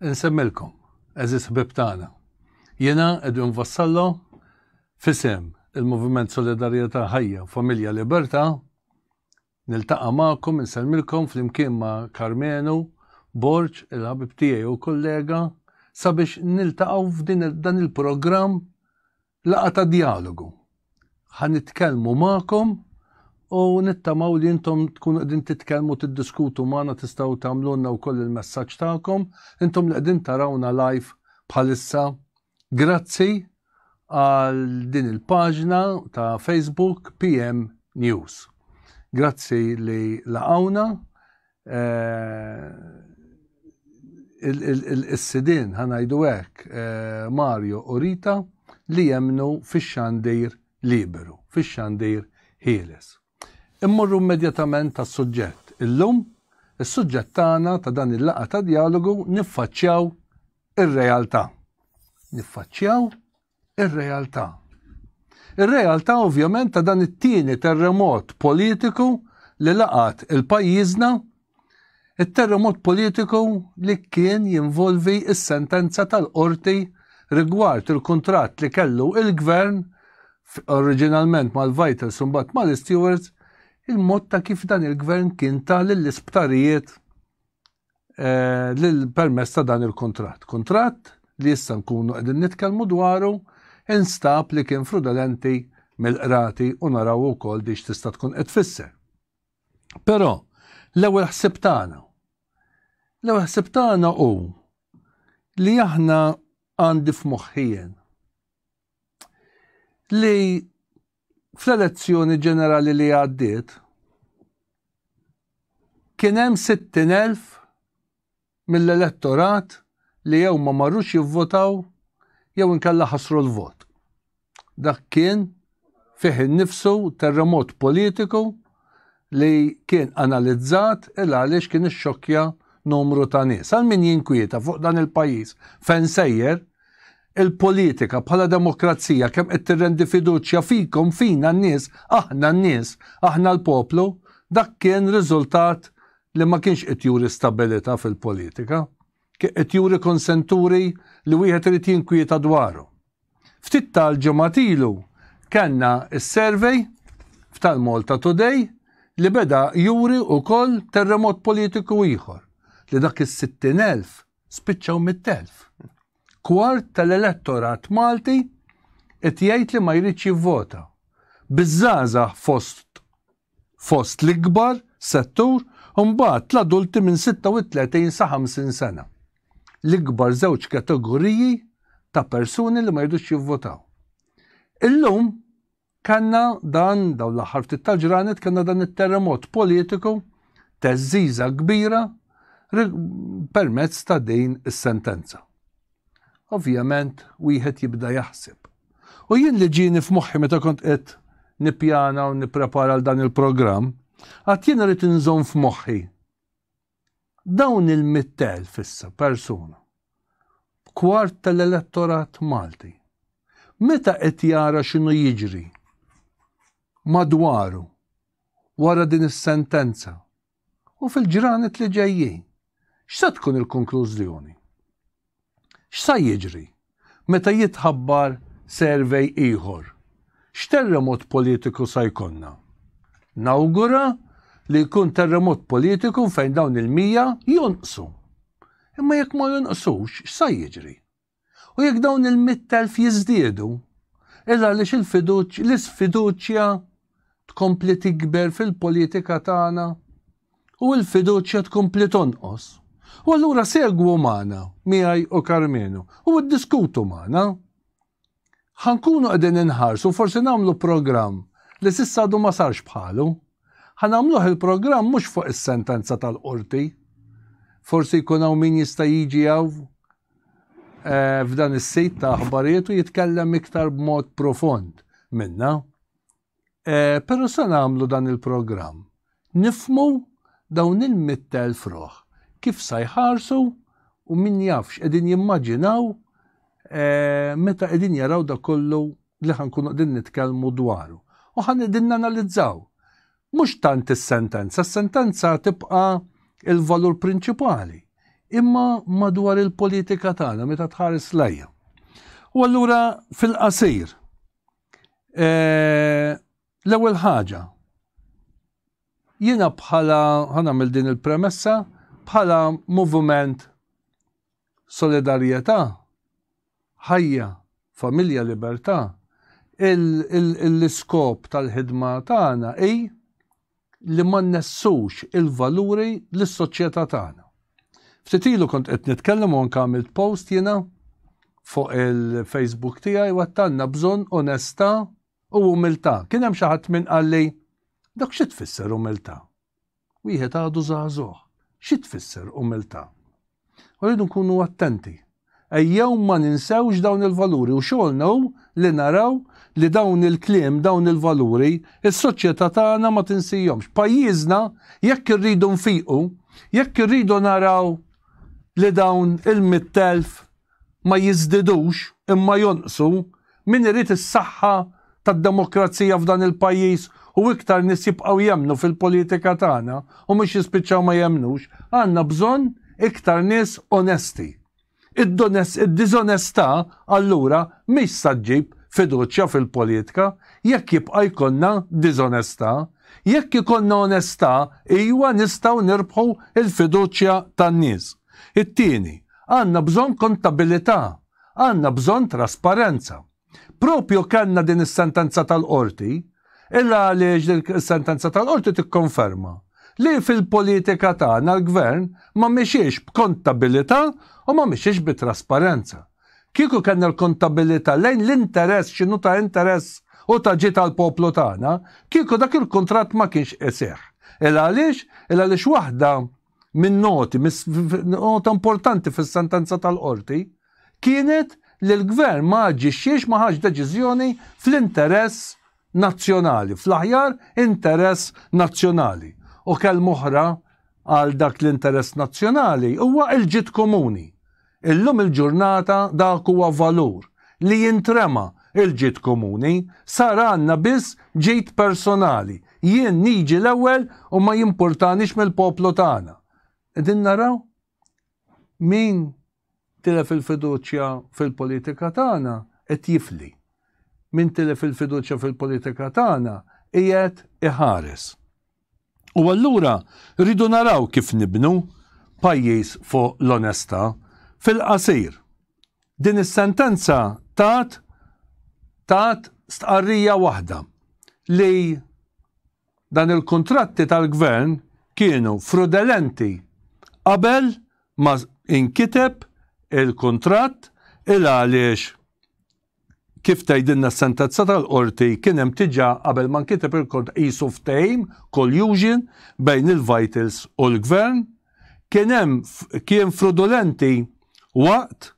Insemmilkom, eżis ħbib tagħna. Jiena Edwin Vassallo, fisem il-Moviment Solidarjetà Ħajja Familja Libertà, niltaqa' magħkom insellmilkom flimkien ma' Karmenu, Borġ, il-ħabib tiegħi u kollega, sabiex niltaqgħu f'din dan il-programm Laqgħa ta' djalogu. Ħa nitkellmu magħkom u nittamaw li intom tkunu qegħdin titkellmu tiddiskutu magħna tistgħu tagħmlulna wkoll il-messaġġ tagħkom intom li qegħdin tarawna live bħalissa. Grazzi għal din il-paġna ta' Facebook PM News. Grazzi li laqgħuna Eh, il-sidin ħanajdu hekk eh, Mario u Rita li jemnu fix-xandir liberu, fix-xandir ħieles. Immorru immedjatament tas suġġett Illum, is-suġġett tagħna ta' dan il-laqa ta' dialogu niffaċċjaw ir-realtà. Niffaċċjaw ir-realtà. Ir-realtà ovvjament ta' dan it-tieni terremot politiku li laqat il-pajjiżna it-terremot politiku li kien jinvolvi s-sentenza tal-qorti rigward il-kuntratt li kellu il-gvern oriġinalment mal-Vitals imbagħad mal-Stewards il-mod ta' kif dan il-gvern kien ta' lill-isptarijiet eh, lil permess ta' dan il-kuntratt. Kuntratt li issa nkunu qegħdin nitkellmu dwaru instab li kien frudolenti mill-qrati u naraw ukoll dix tista' tkun qed tfisser. Però l-ewwel ħsib tagħna. L-ewwel ħsib tagħna hu li aħna għandi f'moħħien li Fl-elezzjoni ġenerali li għaddiet, kien hemm 60,000 mill-elettorat li jew ma marrux jivvotaw jew inkella ħasru l-vot. Dak kien fih innifsu terremot politiku li kien analizzat il għaliex kien ixxokkja numru ta' nies. Għal min jinkwieta fuq dan il-pajjiż fejn sejjer, il-politika bħala demokrazija kemm qed tirrendi fiduċja fikom fina n-nies, aħna n-nies, aħna l-poplu, dak kien riżultat li ma kienx qed juri stabilità fil-politika, qed juri konsenturi li wieħed irid jinkwieta dwarhom. Ftit tal-ġimgħat ilu kellna s-survey f'Tal-MaltaToday li beda juri wkoll terremot politiku ieħor, li dak is-sittin elf spiċċaw mitt elf. Kwart tal-elettorat Malti qed jgħid li ma jridx jivvota, biż-żgħażagħ fost fost l-ikbar settur u mbagħad l-adulti minn 36 sa 50 sena, l-ikbar żewġ kategoriji ta' persuni li ma jridux jivvotaw. Illum kellna dan dawn l-aħħar ftit tal-ġranet kellna dan it-terremot politiku teżżiża kbira permezz ta' din is-sentenza. Ovvjament wieħed jibda jaħseb. U jien li ġieni f'moħħi meta kont qed nippjana u nipprepara għal dan il-programm, għad jien rrid inżomm f'moħħi. Dawn il-mittel fissa persuna, kwart tal-elettorat Malti, meta qed jara x'inhu jiġri madwaru wara din is-sentenza u fil-ġranet li ġejjin. X'sa tkun il-konklużjoni? X'sa jiġri meta jitħabbar survey ieħor? X'terremot politiku sa jkollna? Nawgura li jkun terremot politiku fejn dawn il-mija jonqsu. Imma jekk ma jonqsux, x'sa jiġri? U jekk dawn il-mitt elf jiżdiedu, il għaliex il-fiduċ, l-isfiduċja tkompli tikber fil-politika tagħna u l-fiduċja tkompli tonqos. U allura segwu magħna, miegħi u Karmenu, u ddiskutu magħna. Ħankunu qegħdin inħarsu, forsi nagħmlu programm li s'issa għadu ma sarx bħalu. Ħanamluh il-programm mhux fuq is-sentenza tal-qorti. Forsi jkun hawn min jista' jiġi hawn eh, f'dan is-sit ta' aħbarijiet u jitkellem iktar b'mod profond minna. Eh, però se nagħmlu dan il-programm. Nifmu dawn il-mittel froħ kif sa jħarsu u min jafx qegħdin jimmaġinaw eh, meta qegħdin jaraw da kollu li ħankunu qegħdin nitkellmu dwaru. U ħan qegħdin nanalizzaw Mhux tant is-sentenza, s-sentenza tibqa' il-valur prinċipali, imma madwar il-politika tagħna meta tħares lejja. U allura fil-qasir, e, l-ewwel ħaġa, jiena bħala, ħanamil din il-premessa, bħala moviment solidarjetà, Ħajja, Familja, Libertà, L-iskop tal-ħidma tagħna hi li ma nnessux il-valuri li s-soċjetà tagħna. Ftit ilu kont qed nitkellem u anke għamilt post jiena fuq il-Facebook tiegħi u għattanna bżonn onestà u umiltà. Kien hemm xi ħadd minn qalli, Dok xi tfisser umiltà? wieħed għadu żagħżugħ, xi tfisser umiltà. U rridu nkunu attenti. Ejjew ma ninsewx dawn il-valuri u xogħolna hu li naraw li dawn il-kliem, dawn il-valuri, is-soċjetà tagħna ma tinsihomx. Pajjiżna jekk irridu nfiqu, jekk irridu naraw li dawn il-mittelf ma jiżdidux imma jonqsu, min irid is-saħħa tad-demokrazija f'dan il-pajjiż u iktar nies jibqgħu jemmnu fil-politika tagħna u mhux jispiċċaw ma jemmnux, għandna bżonn iktar nies onesti. Id-diżonestà allura mhix sa ġġib fiduċja fil-politka jekk jibqa' jkollna diżonestà. Jekk ikollna onestà, ijwa nistgħu nirbħu l-fiduċja tan-nies. It-tieni, għandna bżonn kontabilità, għandna bżonn trasparenza. Proprju kellna din is-sentenza tal-Qorti, il għaliex din is-sentenza tal-Qorti tikkonferma li fil-politika tagħna l-Gvern ma mexiex b'kontabilità u ma mexiex bi trasparenza. Kieku kellna l-kontabilità lejn l-interess x'inhu ta' interess u ta' ġid għall-poplu tagħna, kieku dak il-kuntratt ma kienx iseħħ. Il għaliex? Il għaliex waħda minn noti, nota importanti fis-sentenza tal-qorti, kienet li l-gvern ma aġixxiex ma ħax deċiżjoni fl-interess nazzjonali, fl-aħjar interess nazzjonali. U kelm oħra għal dak l-interess nazzjonali huwa l-ġid komuni. Illum il-ġurnata dak huwa valur li jintrema, il-ġid komuni sar għandna biss ġid personali, jien niġi l-ewwel u ma jimpurtanix mill-poplu tagħna. Qegħdin naraw min tilef il-fiduċja fil-politika tagħna qed jifli. Min tilef il-fiduċja fil-politika tagħna qiegħed iħares. U allura rridu naraw kif nibnu pajjiż fuq l-onestà. Fil-qasir, din is-sentenza tat tat stqarrija waħda, li dan il-kuntratti tal-Gvern kienu frudelenti qabel ma inkiteb il-kuntratt il għaliex Kif tgħidilna s-sentenza tal-Qorti, kien hemm diġà qabel ma nkiteb il-kont qisu ftehim, collusion, bejn il-Vitals u l-Gvern. Kien hemm kien frodulenti waqt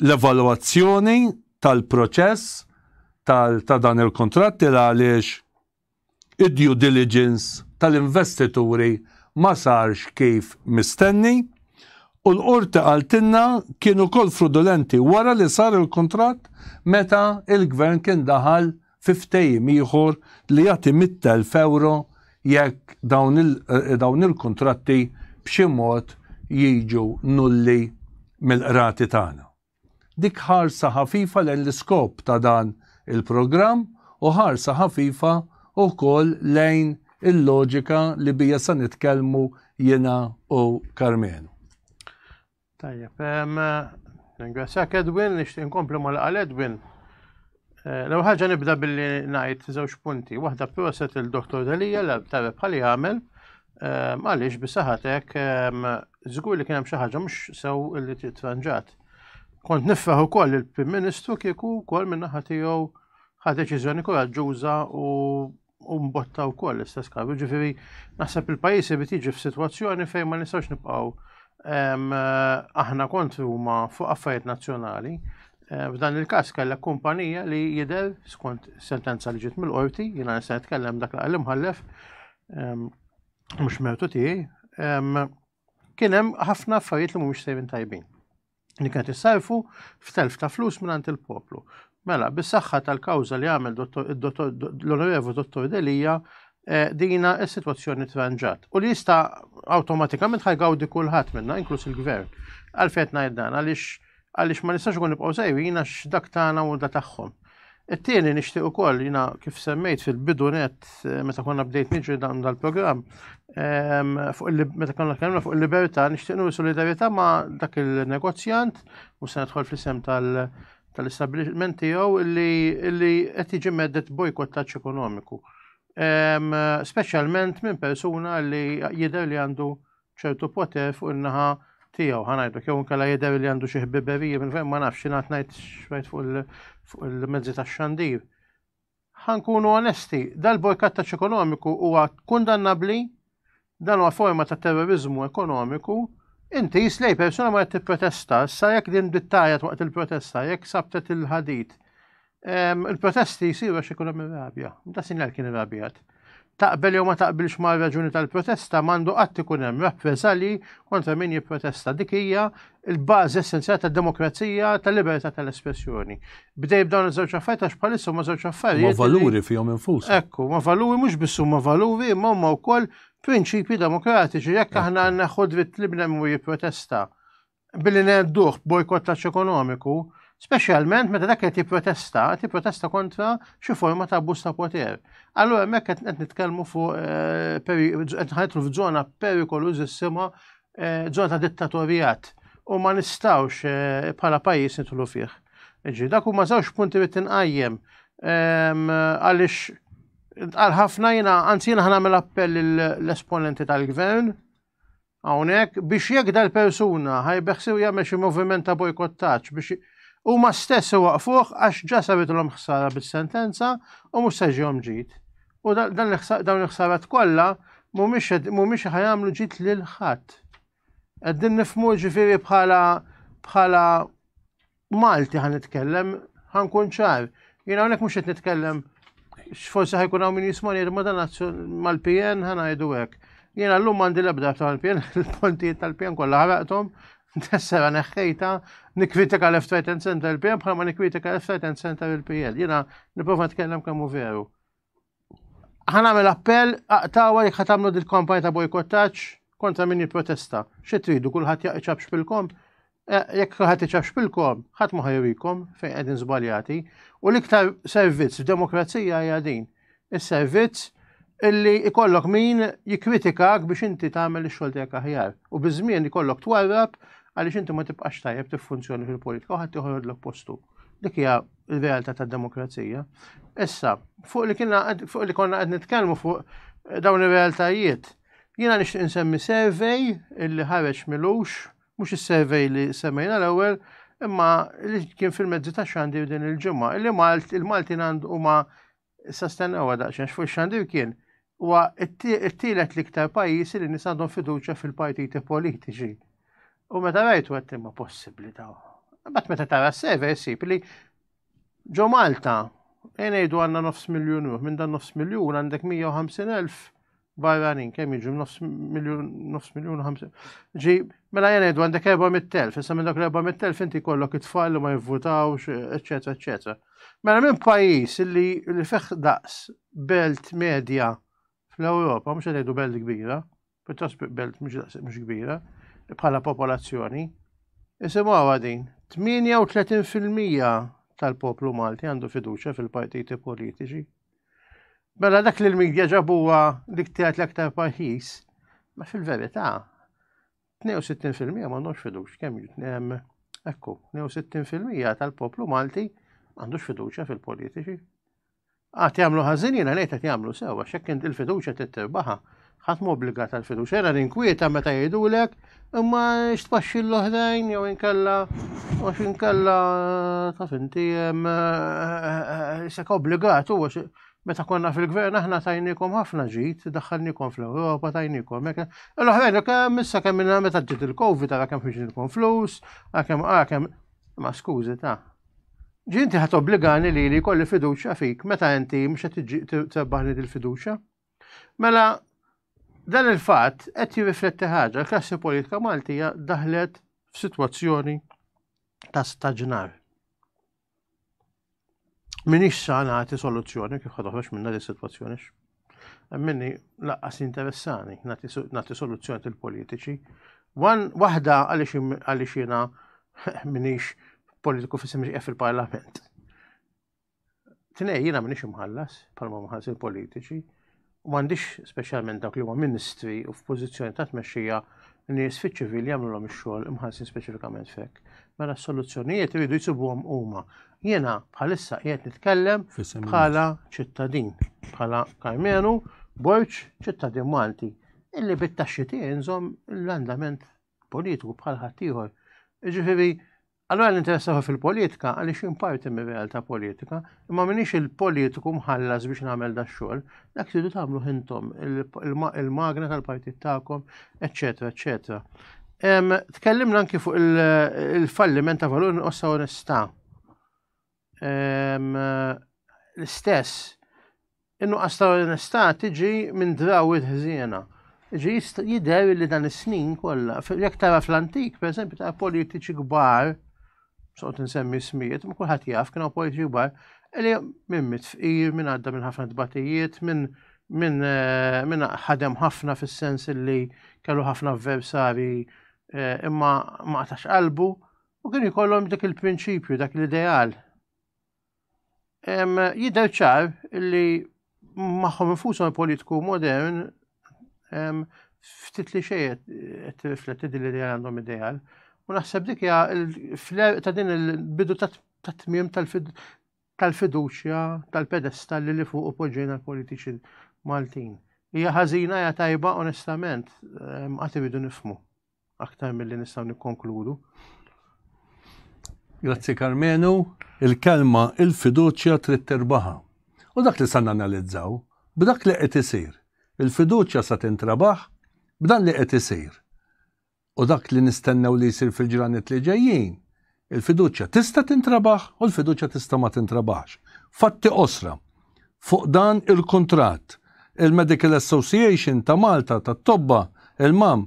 l-evalwazzjoni tal-proċess tal ta' dan il-kuntratt il għaliex. id-due diligence tal-investituri ma sarx kif mistenni u l-Qorti qaltilna kien ukoll frudulenti wara li sar il-kuntratt meta l-Gvern kien daħal fi ftehim ieħor li jagħti mitt elf ewro jekk dawn il-kuntratti b'xi mod jiġu nulli mill-qrati tagħna. Dik ħarsa ħafifa lejn l-iskop ta' dan il-programm u ħarsa ħafifa wkoll lejn il-loġika li bija se nitkellmu jiena u Karmenu. Tajjeb, ringrazzjak Edwin, nixtieq inkompli mal-qal Edwin. Eh, l ħaġa nibda billi najt żewġ punti. Waħda proset il-Dr. Delija l tabib bħali għamel eh, għaliex bisaħatek żgur eh, li kien hemm xi ħaġa mhux sew li titranġat. Kont nifraħ ukoll il-Prim Ministru kieku wkoll min-naħa tiegħu ħa deċiżjoni koraġġuża u u mbotta wkoll l-istess każ. Ġifieri naħseb il-pajjiż irid jiġi f'sitwazzjoni fejn ma nistgħux nibqgħu ehm, aħna kontri huma fuq affarijiet nazzjonali. Eh, f'dan il-każ kellek kumpanija li jidher skont sentenza li ġiet mill-qorti, jiena nista' nitkellem dak li imħallef ehm, mhux mertu tiegħi, ehm, kien hemm ħafna affarijiet li mhumiex sejrin tajbin. li kienet issarfu f'telf ta' flus minn il-poplu. Mela, bis-saħħa tal-kawża li għamel l-Onorevu Dottor Delija, eh, dina s-sitwazzjoni tranġat. U li jista' awtomatikament ħajgawdi kulħadd minna, inkluż il-gvern. Għalfejn ngħid dan għaliex għaliex ma nistax ikun nibqgħu sejrin għax dak tagħna u da tagħhom. It-tieni nixtieq ukoll jiena kif semmejt fil-bidu net eh, meta konna bdejt niġri dan dal-programm ehm, meta konna kellna fuq il-libertà nixtieq nuri solidarità ma' dak il-negozjant u se nidħol fl-isem tal-establishment tiegħu li qed jiġi meddet bojkottaġġ ekonomiku. Ehm, speċjalment minn persuna li jidher li għandu ċertu poter fuq in-naħa tiegħu ħanajdu jew inkella jidher li għandu xi ħbiberija minn fejn ma nafx xi ngħid ngħid xwejt fuq il-mezzi tax-xandir. Ħankunu onesti, dal-bojkattaċ ekonomiku huwa kundannabbli dan huwa forma ta' terrorizmu ekonomiku Inti jislej persuna ma tipprotesta, sa jekk din dittajet waqt il-protesta, jekk sabtet il-ħadit, Il-protesti jisiru għax ikun hemm rabja. Da sinjal kien irrabjat. Taqbel jew ma taqbilx ma' raġuni tal-protesta m'għandu qatt ikun hemm rappreżalji kontra min jipprotesta. Dik hija l-bażi essenzjali tad-demokrazija tal-libertà tal-espressjoni. Bdej b'dawn iż-żewġ affarijiet għax bħalissa ma żewġ affarijiet. Ma valuri fihom infus. Ekku, ma valuri mhux biss huma valuri imma huma wkoll prinċipji demokratiċi jekk aħna neħu dritt li bnem u jipprotesta. billi ngħedduh bojkottaġġ ekonomiku, speċjalment meta dak qed jipprotesta, qed jipprotesta kontra xi forma ta' abbuż ta' poter. Allura hemmhekk qed qed nitkellmu fuq eh, peri- qed ħajtlu f'żona perikolużissima, eh, żona ta' dittatorjat u ma nistgħux eh, bħala pajjiż nidħlu fih. Ġi, dak huma żewġ punti li tinqajjem ehm, għaliex għal ħafna jiena anzi jiena ħanamel appell l-esponenti tal-gvern hawnhekk biex jekk dal-persuna ħa jbeħsibu jagħmel xi moviment ta' bojkottaġġ biex huma stess iwaqfuh għax ġa sabitlhom ħsara bis-sentenza u mhux se ġihom ġid. U dawn il-ħsarat kollha mhumiex ħa jagħmlu ġid lil ħadd. Qegħdin nifhmu ġifieri bħala bħala Malti ħan nitkellem, ħan kun ċar. Jien hawnhekk mhux qed nitkellem forsi ħajkun hawn min jismani ma dan mal-PN ħan ngħidu hekk. Jien llum m'għandi l-ebda tal-PN, il-pontijiet tal-PN kollha ħaraqthom, tessera neħħejta, nikkritika left right and center il-PN bħalma nikkritika left right and center il-PN. Jiena nipprova nitkellem kemm veru. Ħan għamil appell, aqtawa jek ħatamlu dil-kampanja ta' bojkottaċ kontra min protesta. Xi tridu kulħadd jaqċab xpilkom? Eh, jekk kulħadd iċab xpilkom, ħadd ma ħajrikom fejn qegħdin żbaljati. U l-iktar servizz f'demokrazija hija din. Is-servizz illi ikollok min jikritikak biex inti tagħmel ix-xogħol tiegħek aħjar. U biż-żmien ikollok twarrab għaliex inti ma tibqax tajjeb tiffunzjoni fil-politika u ħadd joħodlok postu. Dik hija il-realtà tad-demokrazija. Issa, fuq li kienna fuq li konna qed nitkellmu fuq eh, dawn ir-realtajiet, jiena nixtieq insemmi survey illi ħareġ milux, mhux is-survey li semmejna l-ewwel, imma li kien fil-mezzi ta' xandir din il-ġimgħa, illi Malt il-Maltin għandu huma Issa stennew daqsxejn fuq xandir kien huwa t-tielet l-iktar pajjiż li nies għandhom fiduċja fil-partiti politiċi. U meta rajtu qed imma possibbli ta' Bat meta tara s-server issib li ġo Malta ngħidu għandna nofs miljun ruħ, minn dan nofs miljun għandek 150,000 barranin kemm jiġu nofs miljun nofs miljun ħamsin. Ġi, mela jena jdu għandek 400,000, issa minn dak l-400,000 inti kollok it-tfal li ma jivvutawx, eċetera, eċetera. Mela minn pajjiż li li feħ daqs belt medja fl-Ewropa, mhux qed belt kbira, pjuttost belt mhux kbira, bħala popolazzjoni, isimgħu għadin, 38% tal-poplu Malti għandu fiduċja fil-partiti politiċi. Mela dak li l-medja ġabuha li ktiet l-aktar pajjiż, ma fil-verità 62% ma għandhomx fidux kemm hemm ekku, 62% tal-poplu Malti għandux fiduċja fil-politiċi. Għat jagħmlu ħażin jiena ngħid qed jagħmlu sewa x'hekk il-fiduċja tittirbaħa Ħadd m'obbligat għal fiduċja, era ninkwieta meta jgħidulek imma x'tpaxxi l-oħrajn jew inkella għax inkella taf inti eh, sek obbligat u meta konna fil-gvern aħna tajnikom ħafna ġid, daħħalnikom fl-Ewropa, tajnikom hekk. L-oħrajn kemm issa kemm minna meta ġiet il-Covid ara kemm ħiġilkom flus, kemm kemm ma skużi ta' ġinti ħat obbligani li li kolli fiduċa fik, meta inti mux ħat tibbaħni dil-fiduċa? Mela, dan il-fatt qed jirrifletti ħaġa, l-klassi politika Maltija daħlet f'sitwazzjoni ta' staġnar. Minix sa nagħti soluzzjoni kif ħadoħroġ minna li situazzjoni Minni laqqas interessani nagħti soluzzjoni til-politiċi. Waħda għaliex jiena minix politiku fissim fil-parlament. Tnej, jiena m'iniex imħallas, bħalma mħallas il-politiċi, u m'għandix speċjalment dawk li huma ministri u f'pożizzjoni ta' tmexxija nies fiċ-ċivil jagħmlulhom ix-xogħol imħallsin speċifikament fek. Mela s-soluzzjonijiet iridu jsibuhom huma. Jiena bħalissa qiegħed nitkellem bħala ċittadin, bħala Kajmenu, Borċ, ċittadin Malti, illi bit-taxxi tiegħi nżomm l-andament politiku bħal ħaddieħor. Ġifieri Allora l-interessaw fil-politika għaliex imparti mir realtà politika, imma minix il-politiku mħallas biex nagħmel da xogħol, dak tridu tagħmlu intom il-magna tal-partit tagħkom, eċetera, eċetera. Tkellimna anki fuq il-falliment ta' valur nqossa onestà. L-istess In-nuqqas ta' onestà tiġi minn drawwiet ħżiena. Ġi jidher li dan is-snin kollha, jekk tara fl-antik, pereżempju ta' politiċi kbar, soqgħod insemmi smijiet, ma kulħadd jaf kienu politiċi kbar, li minn mit fqir, minn għadda minn ħafna tbatijiet, minn minn eh, min ħadem ħafna fis-sens li kellu ħafna avversari eh, imma ma qatax qalbu u kien jkollhom dik il-prinċipju, dak l-ideal Jidher ċar li magħhom infushom il-politiku modern ftit li xejn qed tirrifletti din li għandhom ideal. U naħseb dik hija fl-erq ta' din il-bidu ta' tmiem tal-fiduċja tal-pedestal li fuq poġġejna l-politiċi Maltin. Hija ħażina hija tajba onestament għad iridu nifmu. aktar milli nistgħu nikkonkludu. Grazzi Karmenu, il-kelma il-fiduċja trid tirbaħa. U dak li sa nanalizzaw, b'dak li qed isir, il-fiduċja sa tintrabaħ b'dan li qed isir. U dak li nistennew li jsir fil-ġranet li ġejjin, Il-fiduċja tista' tintrebaħ u l-fiduċja tista' ma tintrebaħx. Fatti qosra fuq dan il-kuntratt, il-Medical Association ta' Malta tat-Tobba, il-MAM,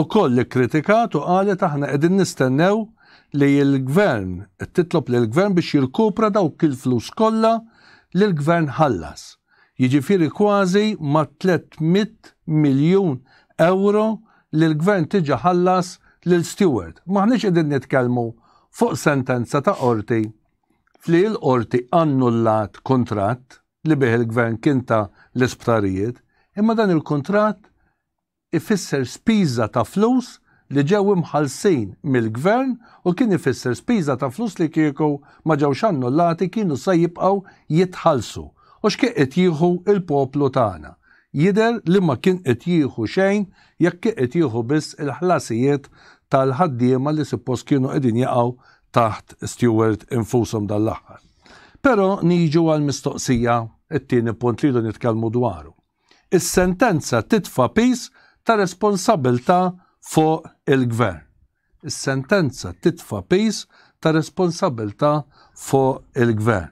ukoll ikkritikat u qalet aħna qegħdin nistennew li l-Gvern, qed titlob lill-Gvern biex jirkupra dawk il-flus kollha li l-Gvern ħallas. jiġifieri kważi mat-tliet mitt miljun ewro li l-Gvern diġà ħallas lil Steward. M'aħniex qegħdin nitkellmu fuq sentenza ta' qorti li l-qorti annullat kuntratt li bih il-Gvern kien ta l-isptarijiet, imma dan il-kuntratt ifisser spiża ta' flus li ġew imħallsin mill-Gvern u kien ifisser spiża ta' flus li kieku ma ġewx annullati kienu se jibqgħu jitħallsu. U x'kien qed jieħu l-poplu tagħna? Jidher li ma kien qed jieħu xejn jekk kien qed jieħu biss il-ħlasijiet tal-ħaddiema li suppost kienu qegħdin jaqgħu taħt Steward infushom dan l-aħħar. Però niġu għall-mistoqsija, it-tieni punt li rridu nitkellmu dwaru. Is-sentenza titfa' piż ta' responsabbiltà fuq il-Gvern. Is-sentenza titfa' piż ta' responsabbiltà fuq il-Gvern.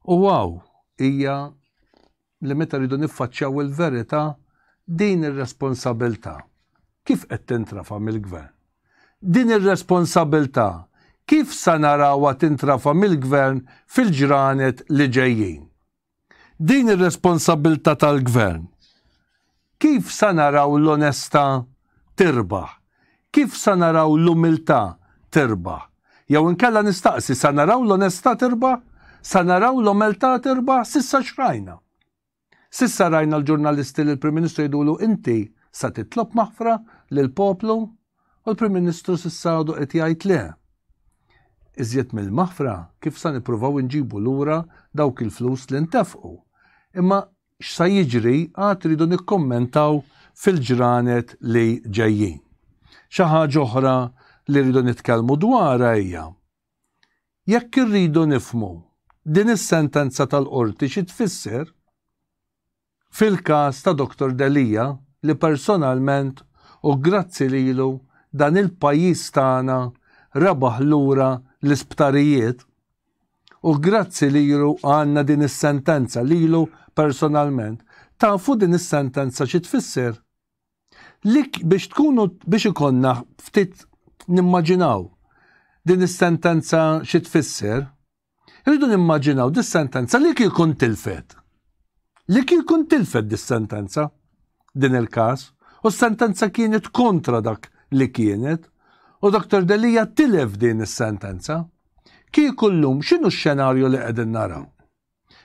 U hawn hija li meta rridu niffaċċjaw il-verità, din ir-responsabbiltà kif qed tintrafa' mill-Gvern? Din ir-responsabbiltà kif sa narawha tintrafa' mill-Gvern fil-ġranet li ġejjin? Din ir-responsabbiltà tal-Gvern. Kif sa naraw l-onestà tirbaħ? Kif sa naraw l-umiltà tirbaħ? Jew inkella nistaqsi, sa naraw l-onestà tirbaħ? Sa naraw l-omeltà tirbaħ? S'issa x'rajna? S'issa rajna l-ġurnalisti lill-Prim Ministru jgħidulu inti sa titlob maħfra lill-poplu? U l-Prim Ministru s'issa għadu qed jgħid le. Iżjed mill-maħfra kif sa nippruvaw inġibu lura dawk il-flus li ntefqu. Imma x'sa jiġri għad rridu nikkummentaw fil-ġranet li ġejjin. Xi ħaġa oħra li rridu nitkellmu dwarha hija jekk irridu nifhmu din is-sentenza tal-Qorti xi tfisser, Fil-każ ta' Dottor Delia, li personalment u grazzi lilu dan il-pajjiż tagħna rebaħ lura l-isptarijiet, u grazzi lilu għandna din is-sentenza, lilu personalment. Tafu din is-sentenza xi tfisser? Li biex tkunu biex ikollna ftit nimmaġinaw din is-sentenza xi tfisser, Irridu nimmaġinaw dis-sentenza li kieku ntilfet. Li kieku ntilfet dis-sentenza, din il-każ, u s-sentenza kienet kontra dak li kienet, u Dr. Delia tilef din is-sentenza. Kieku llum x'inhu x-xenarju li qegħdin naraw?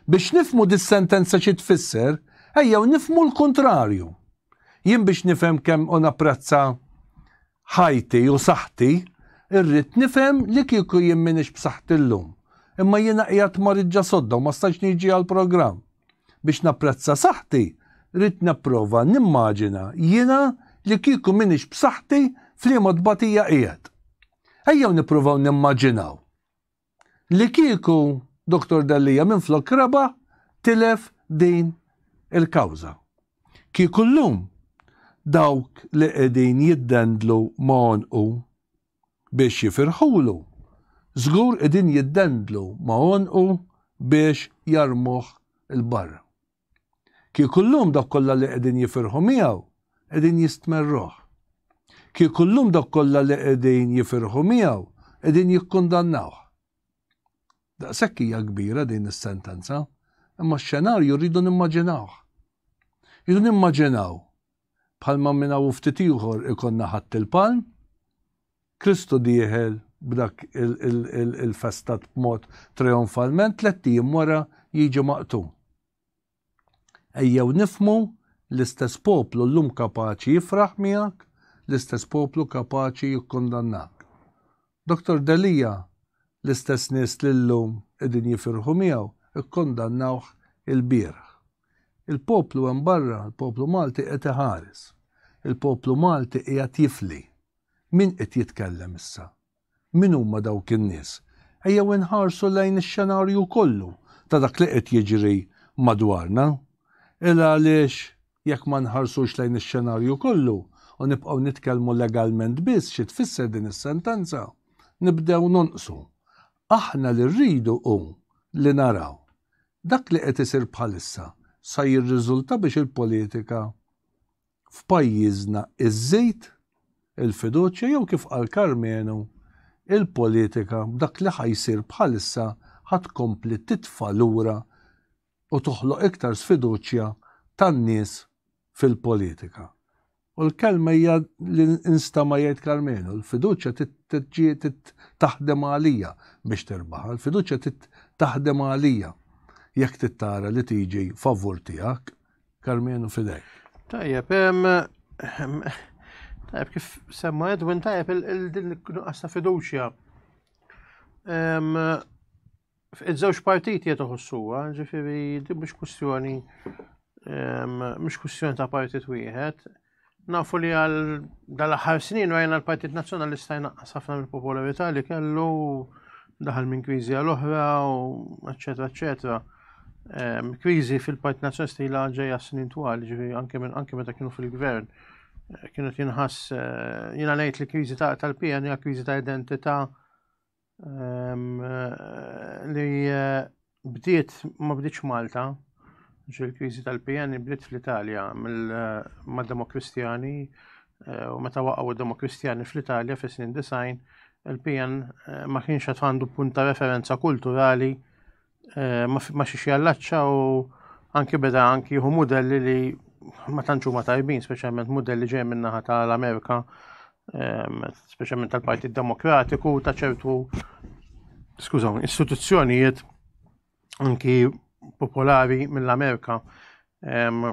Biex nifhmu dis-sentenza xi tfisser, ejjew nifhmu l-kuntrarju. Jien biex nifhem kemm u napprezza ħajti u saħħti, irrid nifhem li kieku jien m'iniex b'saħħti llum, imma jiena qiegħed mariġġa sodda u ma stajtx niġi għall-programm. Biex napprezza saħħti, ridt nipprova nimmaġina jiena li kieku m'iniex b'saħħti f'liema tbatija qiegħed. Ejjew nippruvaw nimmaġinaw. li kieku Dottor Delia minflok rebaħ tilef din il-kawża. Kieku llum dawk li qegħdin jiddendlu ma' għonqu biex jifirħulu, żgur qegħdin jiddendlu ma' għonqu biex jarmuh 'l barra. Kieku llum dawk kollha li qegħdin jifirħu miegħu qegħdin jistmerruh. Kieku llum dawk kollha li qegħdin jifirħu miegħu qegħdin jikkundannawh. Daqshekk hija kbira din is-sentenza, imma x-xenarju rridu nimmaġinawh. Rridu nimmaġinaw bħalma minn hawn ftit ieħor ikollna Ħadd il-Palm, Kristu dieħel b'dak il-festat b'mod trijonfalment tlett ijiem wara jiġi maqtul. Ejjew nifhmu l-istess poplu llum kapaċi jifraħ miegħek, l-istess poplu kapaċi jikkundannak. Dottor Delia, L-istess nies li llum qegħdin jifirħu miegħu kkundannawh ilbieraħ. Il-poplu hemm barra, il-poplu Malti qed iħares. Il-poplu Malti qiegħed jifli. Min qed jitkellem issa? Min huma dawk in-nies? Ejjew inħarsu lejn ix-xenarju kollu ta' dak li qed jiġri madwarna. Ela għaliex Jekk ma nħarsux lejn ix-xenarju kollu u nibqgħu nitkellmu legalment biss xi tfisser din is-sentenza, nibdew nonqsu. Aħna li rridu hu li naraw. Dak li qed isir bħalissa sa jirriżulta biex il-politika f'pajjiżna iżżid il-fiduċja jew kif qal Karmenu, il-politika b'dak li ħa jsir bħalissa ħa tkompli titfa' lura u toħloq iktar sfiduċja tan-nies fil-politika. U l-kelma hija li nstama' jgħid Karmenu, l-fiduċja trid taħdem għalija biex tirbaħha, l-fiduċja trid taħdem għalija jekk trid tara li tiġi favur tiegħek, Karmenu fidejk. Tajjeb, tajjeb kif semma Edwin tajjeb il-din nuqqas ta' fiduċja. Iż-żewġ partiti qed iħossuha, ġifieri din mhux kwistjoni ehm, mhux kwistjoni ta' partit wieħed. Nafu li għal dal-aħħar snin rajna l-Partit Nazzjonalista jnaqqas ħafna mill-popolarità li kellu daħal minn kriżi għal oħra u eċetera eċetera. Ehm, kriżi fil-Partit Nazzjonalista li ġejja snin twal, ġifieri anke minn anke meta kienu fil-gvern eh, kienu tinħass eh, jiena ngħid li kriżi tal-PN hija kriżi ta' identità li eh, bdiet ma bdietx Malta, il-kriżi tal-PN bdiet fl-Italja mill-Demokristjani eh, eh, u meta waqgħu d-Demokristjani fl-Italja fis-snin design, il-PN ma kienx qed għandu punta referenza kulturali eh, ma xiex jallaċċa u anki beda anki jieħu modelli li ma tantxu ma tajbin, speċjalment modelli ġej minnaħa tal-Amerika, ehm, speċjalment tal-Partit Demokratiku ta' ċertu skużaw, istituzzjonijiet anki popolari mill-Amerika. Ehm,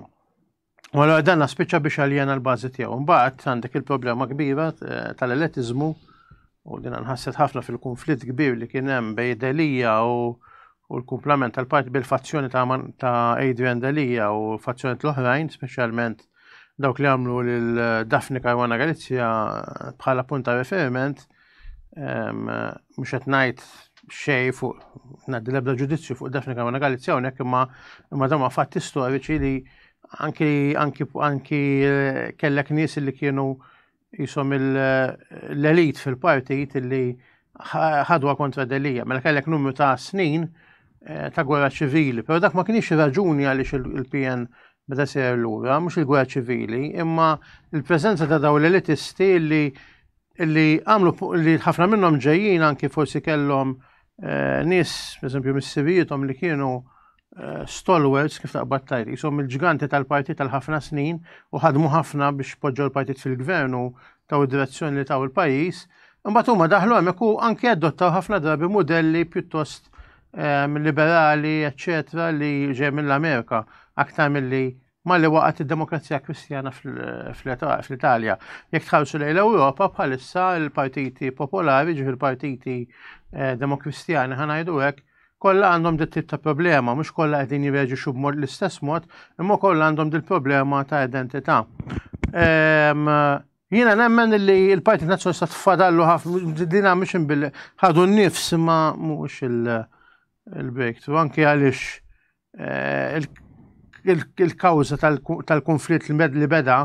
U għallora dan naspiċċa biex għalijana l-bazi tiegħu. Mbagħad għandek il-problema kbira eh, tal-eletiżmu u din nħasset ħafna fil-konflitt kbir li kien hemm bej Delija u u l-kumplament tal-parti bil-fazzjoni ta', ta Adrian Delija u fazzjoni l-oħrajn, speċjalment dawk li għamlu l-Dafni Karwana Galizja bħala punta referiment, mhux qed ngħid xej fuq ngħaddi l-ebda ġudizzju fuq Daphne Caruana Galizja hawnhekk imma imma dawn fatti storiċi li anki anki anki eh, kellek nies li kienu jisom l-elit fil-partit li ħadwa kontra delija, mela kellek numru ta' snin eh, ta' gwerra ċivili, pero dak ma kienx raġuni għaliex il-PN beda ser lura, mhux il-gwerra ċivili, imma il-preżenza ta' daw l-elitisti li Illi għamlu li ħafna minnhom ġejjin anki forsi kellhom eh, nies, eżempju, mis-sivijietom li kienu eh, stalwards kif taqbad tajt, jisom il-ġganti tal-partit tal-ħafna snin u ħadmu ħafna biex poġġew l-partit fil-gvern u taw id-direzzjoni li taw il-pajis, imbagħad huma daħlu hemmhekk u anki adottaw ħafna drabi modelli pjuttost ehm, liberali, eċċetera, li ġej mill-Amerika aktar milli Malli waqgħet id-demokrazija kristjana fl-Italja. Jekk tħarsu lejn l-Ewropa bħalissa l-partiti popolari, ġifi l-partiti eh, demokristjani ħanajdu hekk, kollha għandhom dit tip ta' problema, mhux kollha qegħdin jirreġixxu b'mod l-istess mod, imma kollha għandhom dil problema ta' identità. Ehm, jiena nemmen li l-Partit Nazzjonalista tfadallu ħafna dina mhux bil ħadu n-nifs ma mhux il-breakthrough, anke għaliex eh, il-kawża tal-konflitt li beda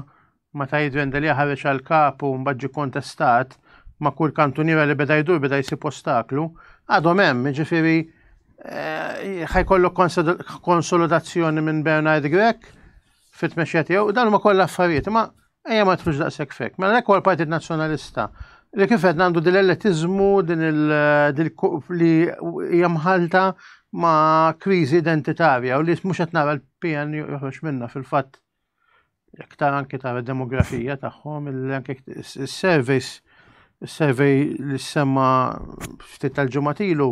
meta jidvenda li ħareġ għal kapu mbagħad kontestat ma' kull kantuniera li beda jdur beda jsib ostaklu, għadhom hemm, ġifieri eh, ħajkollu konsolidazzjoni minn Bernard Grek fit-tmexxija tiegħu, dan huma kollha affarijiet, ma Ejja ma tħux daqshekk fek. Mela l-ekwa l-Partit Nazzjonalista li kif qed għandu din l-eletiżmu din li hija mħalta ma' kriżi identitarja u li mhux qed nara l-PN joħroġ minna fil-fatt jekk tara anke tara demografija tagħhom anke s-surveys is-survey li semma ftit tal-ġimgħat ilu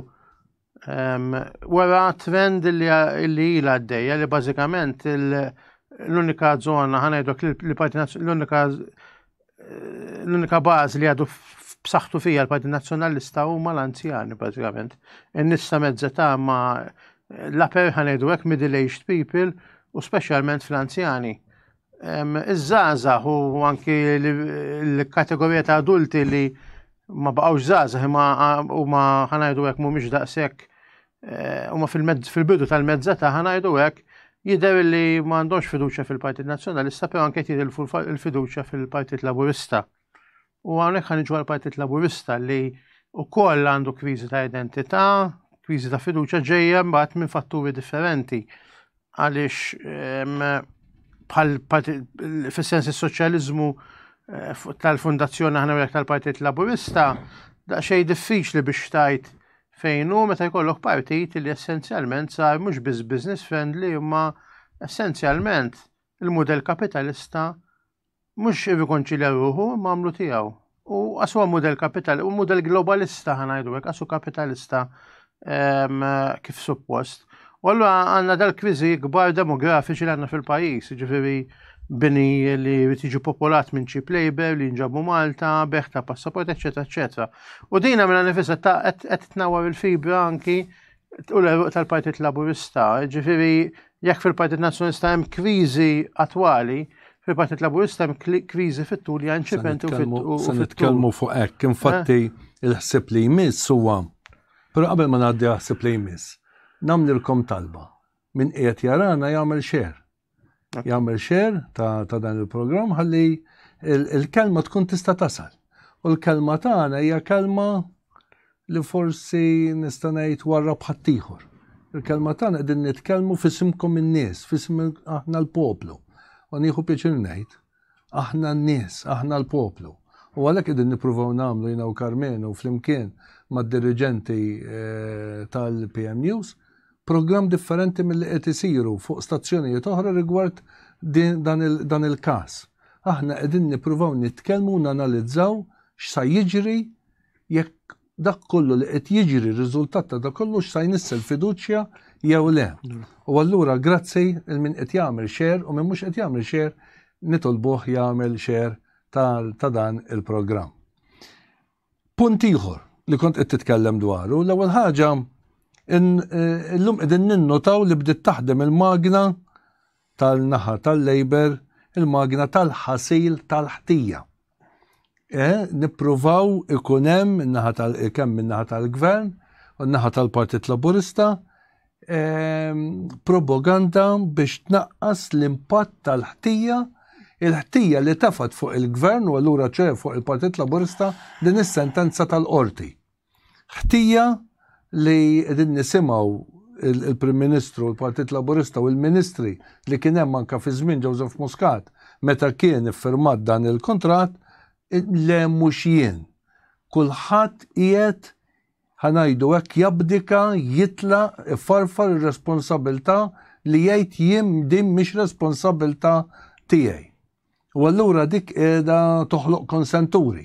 Wara trend li ila għaddejja li bażikament l-unika zona ħanajdok li parti l-unika l-unika bażi li għadu b'saħħtu fija l-Parti Nazzjonalista huma l-anzjani bażikament. In-nissa mezzeta ma l-aper ħanejdu hekk middle-aged people u speċjalment fl-anzjani. Iż-żgħażagħ u anki l-kategorija ta' adulti li ma baqgħux żgħażagħ imma huma ħanajdu hekk mhumiex daqshekk eh, huma fil-bidu tal-mezza ta' ħanajdu hekk jidher li ma għandhomx fiduċja fil-Partit Nazzjonalista però anke jidher il-fiduċja fil-Partit Laburista. U hawnhekk ħan iġu għall-Partit Laburista li wkoll għandu kriżi ta' identità, kriżi ta' fiduċja ġejja mbagħad minn fatturi differenti għaliex ehm, bħal fis-sens is-soċjaliżmu eh, tal-Fundazzjoni aħna jekk tal-Partit Laburista daqsxejn diffiċli biex tajt fejn hu meta jkollok partit li essenzjalment sar mhux biss business friendly imma essenzjalment il-mudell kapitalista Mhux irrikonċilja ruħu, imma għamlu tiegħu. U għasu huwa mudell kapital, u mudell globalista ħanajdu hekk, għasu kapitalista ehm, kif suppost. U allura għandna dal-kriżi kbar demografiċi li għandna fil-pajjiż, ġifieri bini li tiġi popolat minn cheap labor li nġabu Malta, beħ ta' passaport, eccetera, eccetera. U dina minna nifisa ta' qed tnawar il-fibra anki U l-eruq tal-Partit Laburista, ġifiri, jekk fil-Partit Nazzjonalista hemm kriżi attwali, fil-Partit Laburista hemm kriżi fit-tul li għanċipenti u fit-tul. Se nitkellmu fuq hekk, infatti eh? il-ħsib li jmiss huwa. Però qabel ma ngħaddi ħsib li jmiss, nagħmlilkom talba. Min qiegħed jarana jagħmel xer. jagħmel share ta' dan il-programm ħalli il-kelma tkun tista' tasal. U l-kelma tagħna hija kelma li forsi nista' ngħid warra bħattijħor. Il-kelma tagħna qegħdin nitkellmu fisimkom in-nies, fisim aħna l-poplu. U nieħu pjaċir ngħid Aħna n-nies, aħna l-poplu. U għalhekk qegħdin nippruvaw nagħmlu jiena u Karmenu flimkien mad-diriġenti tal-PMUs programm differenti milli qed isiru fuq stazzjonijiet oħra rigward dan il-każ. Aħna qegħdin nippruvaw nitkellmu u nanalizzaw x'sa jiġri jekk dak kollu li qed jiġri r-riżultat ta' dak kollu x'sa jnissel fiduċja jew le. U allura grazzi il min qed jagħmel xer u min mhux qed jagħmel xer nitolbuh jagħmel xer ta' dan il-programm. Punt ieħor li kont qed titkellem dwaru, l-ewwel ħaġa illum qegħdin ninnotaw li bdiet taħdem il-magna tal-naħa tal-Labor, il-magna tal-ħasil tal-ħtija. eh, nippruvaw ikun hemm naħa tal kemm min-naħa tal-gvern u naħa tal-Partit Laburista ehm, propaganda biex tnaqqas l-impatt tal-ħtija il-ħtija li tafat fuq il-gvern u allura ċe fuq il-Partit Laburista din is-sentenza tal-qorti. Ħtija li qegħdin nisimgħu l-Prim Ministru u l-Partit Laburista u l-Ministri li kien hemm anke fi żmien Joseph Muscat meta kien iffirmat dan il-kuntratt, le mhux jien. Kulħadd qiegħed ħa ngħidu hekk jabdika, jitlaq, ifarfar ir-responsabilità li jgħid jien din mhix responsabilità tiegħi. U allura dik qiegħda toħloq konsenturi,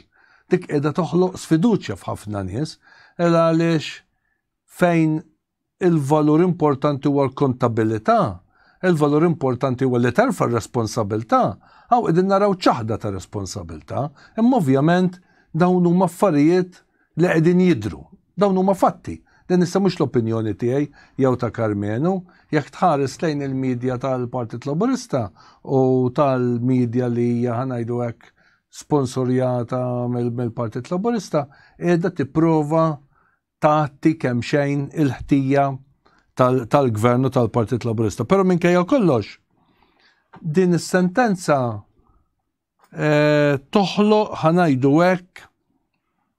dik qiegħda toħloq sfiduċja f'ħafna nies, il għaliex fejn il-valur importanti huwa l-kontabilità, il-valur importanti huwa li terfa' r-responsabilità, hawn qegħdin naraw ċaħda ta' responsabilità, imma ovvjament dawn huma affarijiet li qegħdin jidhru. Dawn huma fatti. Din issa mhux l-opinjoni tiegħi jew ta' Karmenu. Jekk tħares lejn il-media tal-Partit Laburista u tal-media li hija ħa ngħidu hekk sponsorjata mill-Partit Laburista, qiegħda tipprova tagħti kemm xejn il-ħtija tal-gvernu tal-Partit Laburista. Però minkejja kollox, din is-sentenza Eh, toħloq ħanajdu hekk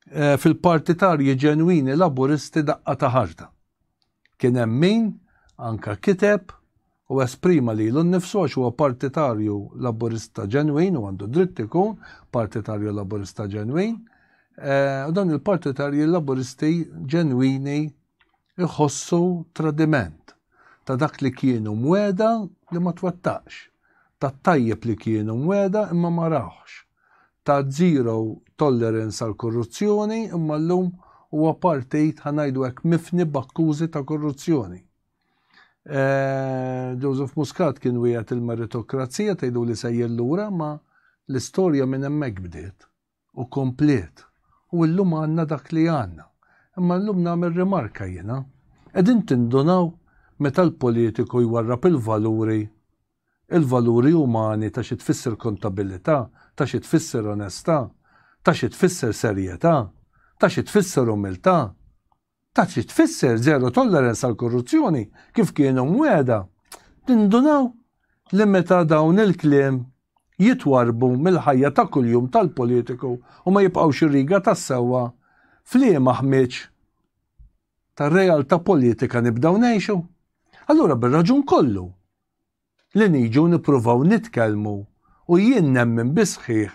eh, fil-partitarji ġenwini laburisti daqqa ta' ħarta. Kien hemm min anka kiteb u esprima li l nifsu għax huwa partitarju laburista ġenwin u għandu dritt ikun partitarju laburista ġenwin. Eh, u dan il-partitarji laburisti ġenwini iħossu tradiment, ta' dak li kienu mwegħda li ma twettaqx, tat-tajjeb li kienu mwegħda imma ma rawhx, ta' zero tolerance għall-korruzzjoni imma llum huwa partit, ħa ngħidu hekk, mifni b'akkużi ta' korruzzjoni. Joseph Muscat kien wiegħed il-meritokrazija tgħiduli sejjer lura ma l-istorja minn hemmhekk bdiet. u komplet u illum għandna dak li għandna. Imma illum nagħmel rimarka jiena. Qegħdin tindunaw meta l-politiku jwarrab il-valuri, il-valuri umani ta' xi tfisser kontabilità, ta' xi tfisser onestà, ta' xi tfisser serjetà, ta' xi tfisser umiltà? Ta' trid tfisser zero tolerance għall-korruzzjoni kif kienu mwiegħda. Tindunaw li meta dawn il-kliem jitwarrbu mill-ħajja ta' kuljum tal-politiku u ma jibqgħux ir-riga tas-sewwa f'liema ħmieġ ta' realtà politika nibdew ngħixu? Allura bir-raġun kollu, li niġu nippruvaw nitkellmu u jien nemmen bis-sħiħ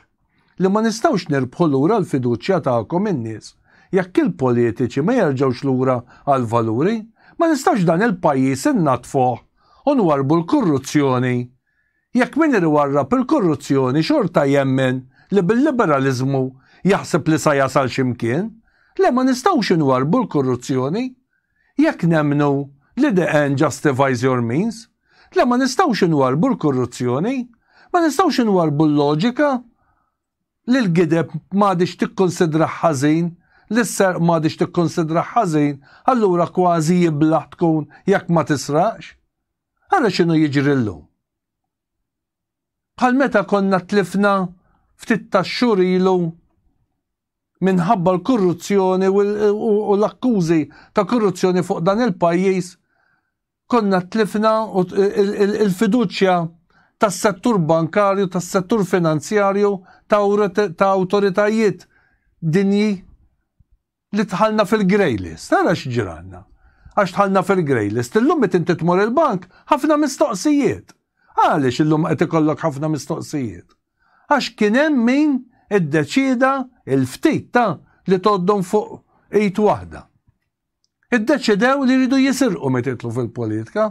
li ma nistgħux nirbħu lura l-fiduċja tagħkom in-nies jekk il-politiċi ma jerġgħux lura għall-valuri, ma nistgħux dan il-pajjiż innaddfuh u nwarrbu l-kurruzzjoni jekk min ir iwarrab il-kurruzzjoni xorta jemmen li bil-liberaliżmu jaħseb li sa jasal xi mkien. Le ma nistgħux inwarrbu l-kurruzzjoni. jekk nemmnu li the end justifies your means, le ma nistgħux inwarrbu l-korruzzjoni, ma nistgħux inwarrbu l-loġika li l-gideb m'għadhiex tikkunsidrah ħażin, li s-serq m'għadhiex tikkunsidrah ħażin, allura kważi iblah tkun jekk ma tisraqx. Ara x'inhu jiġri llum. Bħal meta konna tlifna ftit tax-xhur ilu minħabba l-korruzzjoni u l-akkużi ta' korruzzjoni fuq dan il-pajjiż konna tlifna il-fiduċja tas-settur bankarju, tas-settur finanzjarju, ta' awtoritajiet dinji li dħalna fil-grey list. Ara x'ġralna. Għax dħalna fil-grey list. Illum meta inti tmur il-bank, ħafna mistoqsijiet. Għaliex illum qed ikollok ħafna mistoqsijiet? għax kien hemm min iddeċieda l-ftit ta' li tgħoddhom fuq id waħda. Iddeċidew li jridu jisirqu meta jidħlu fil-politika.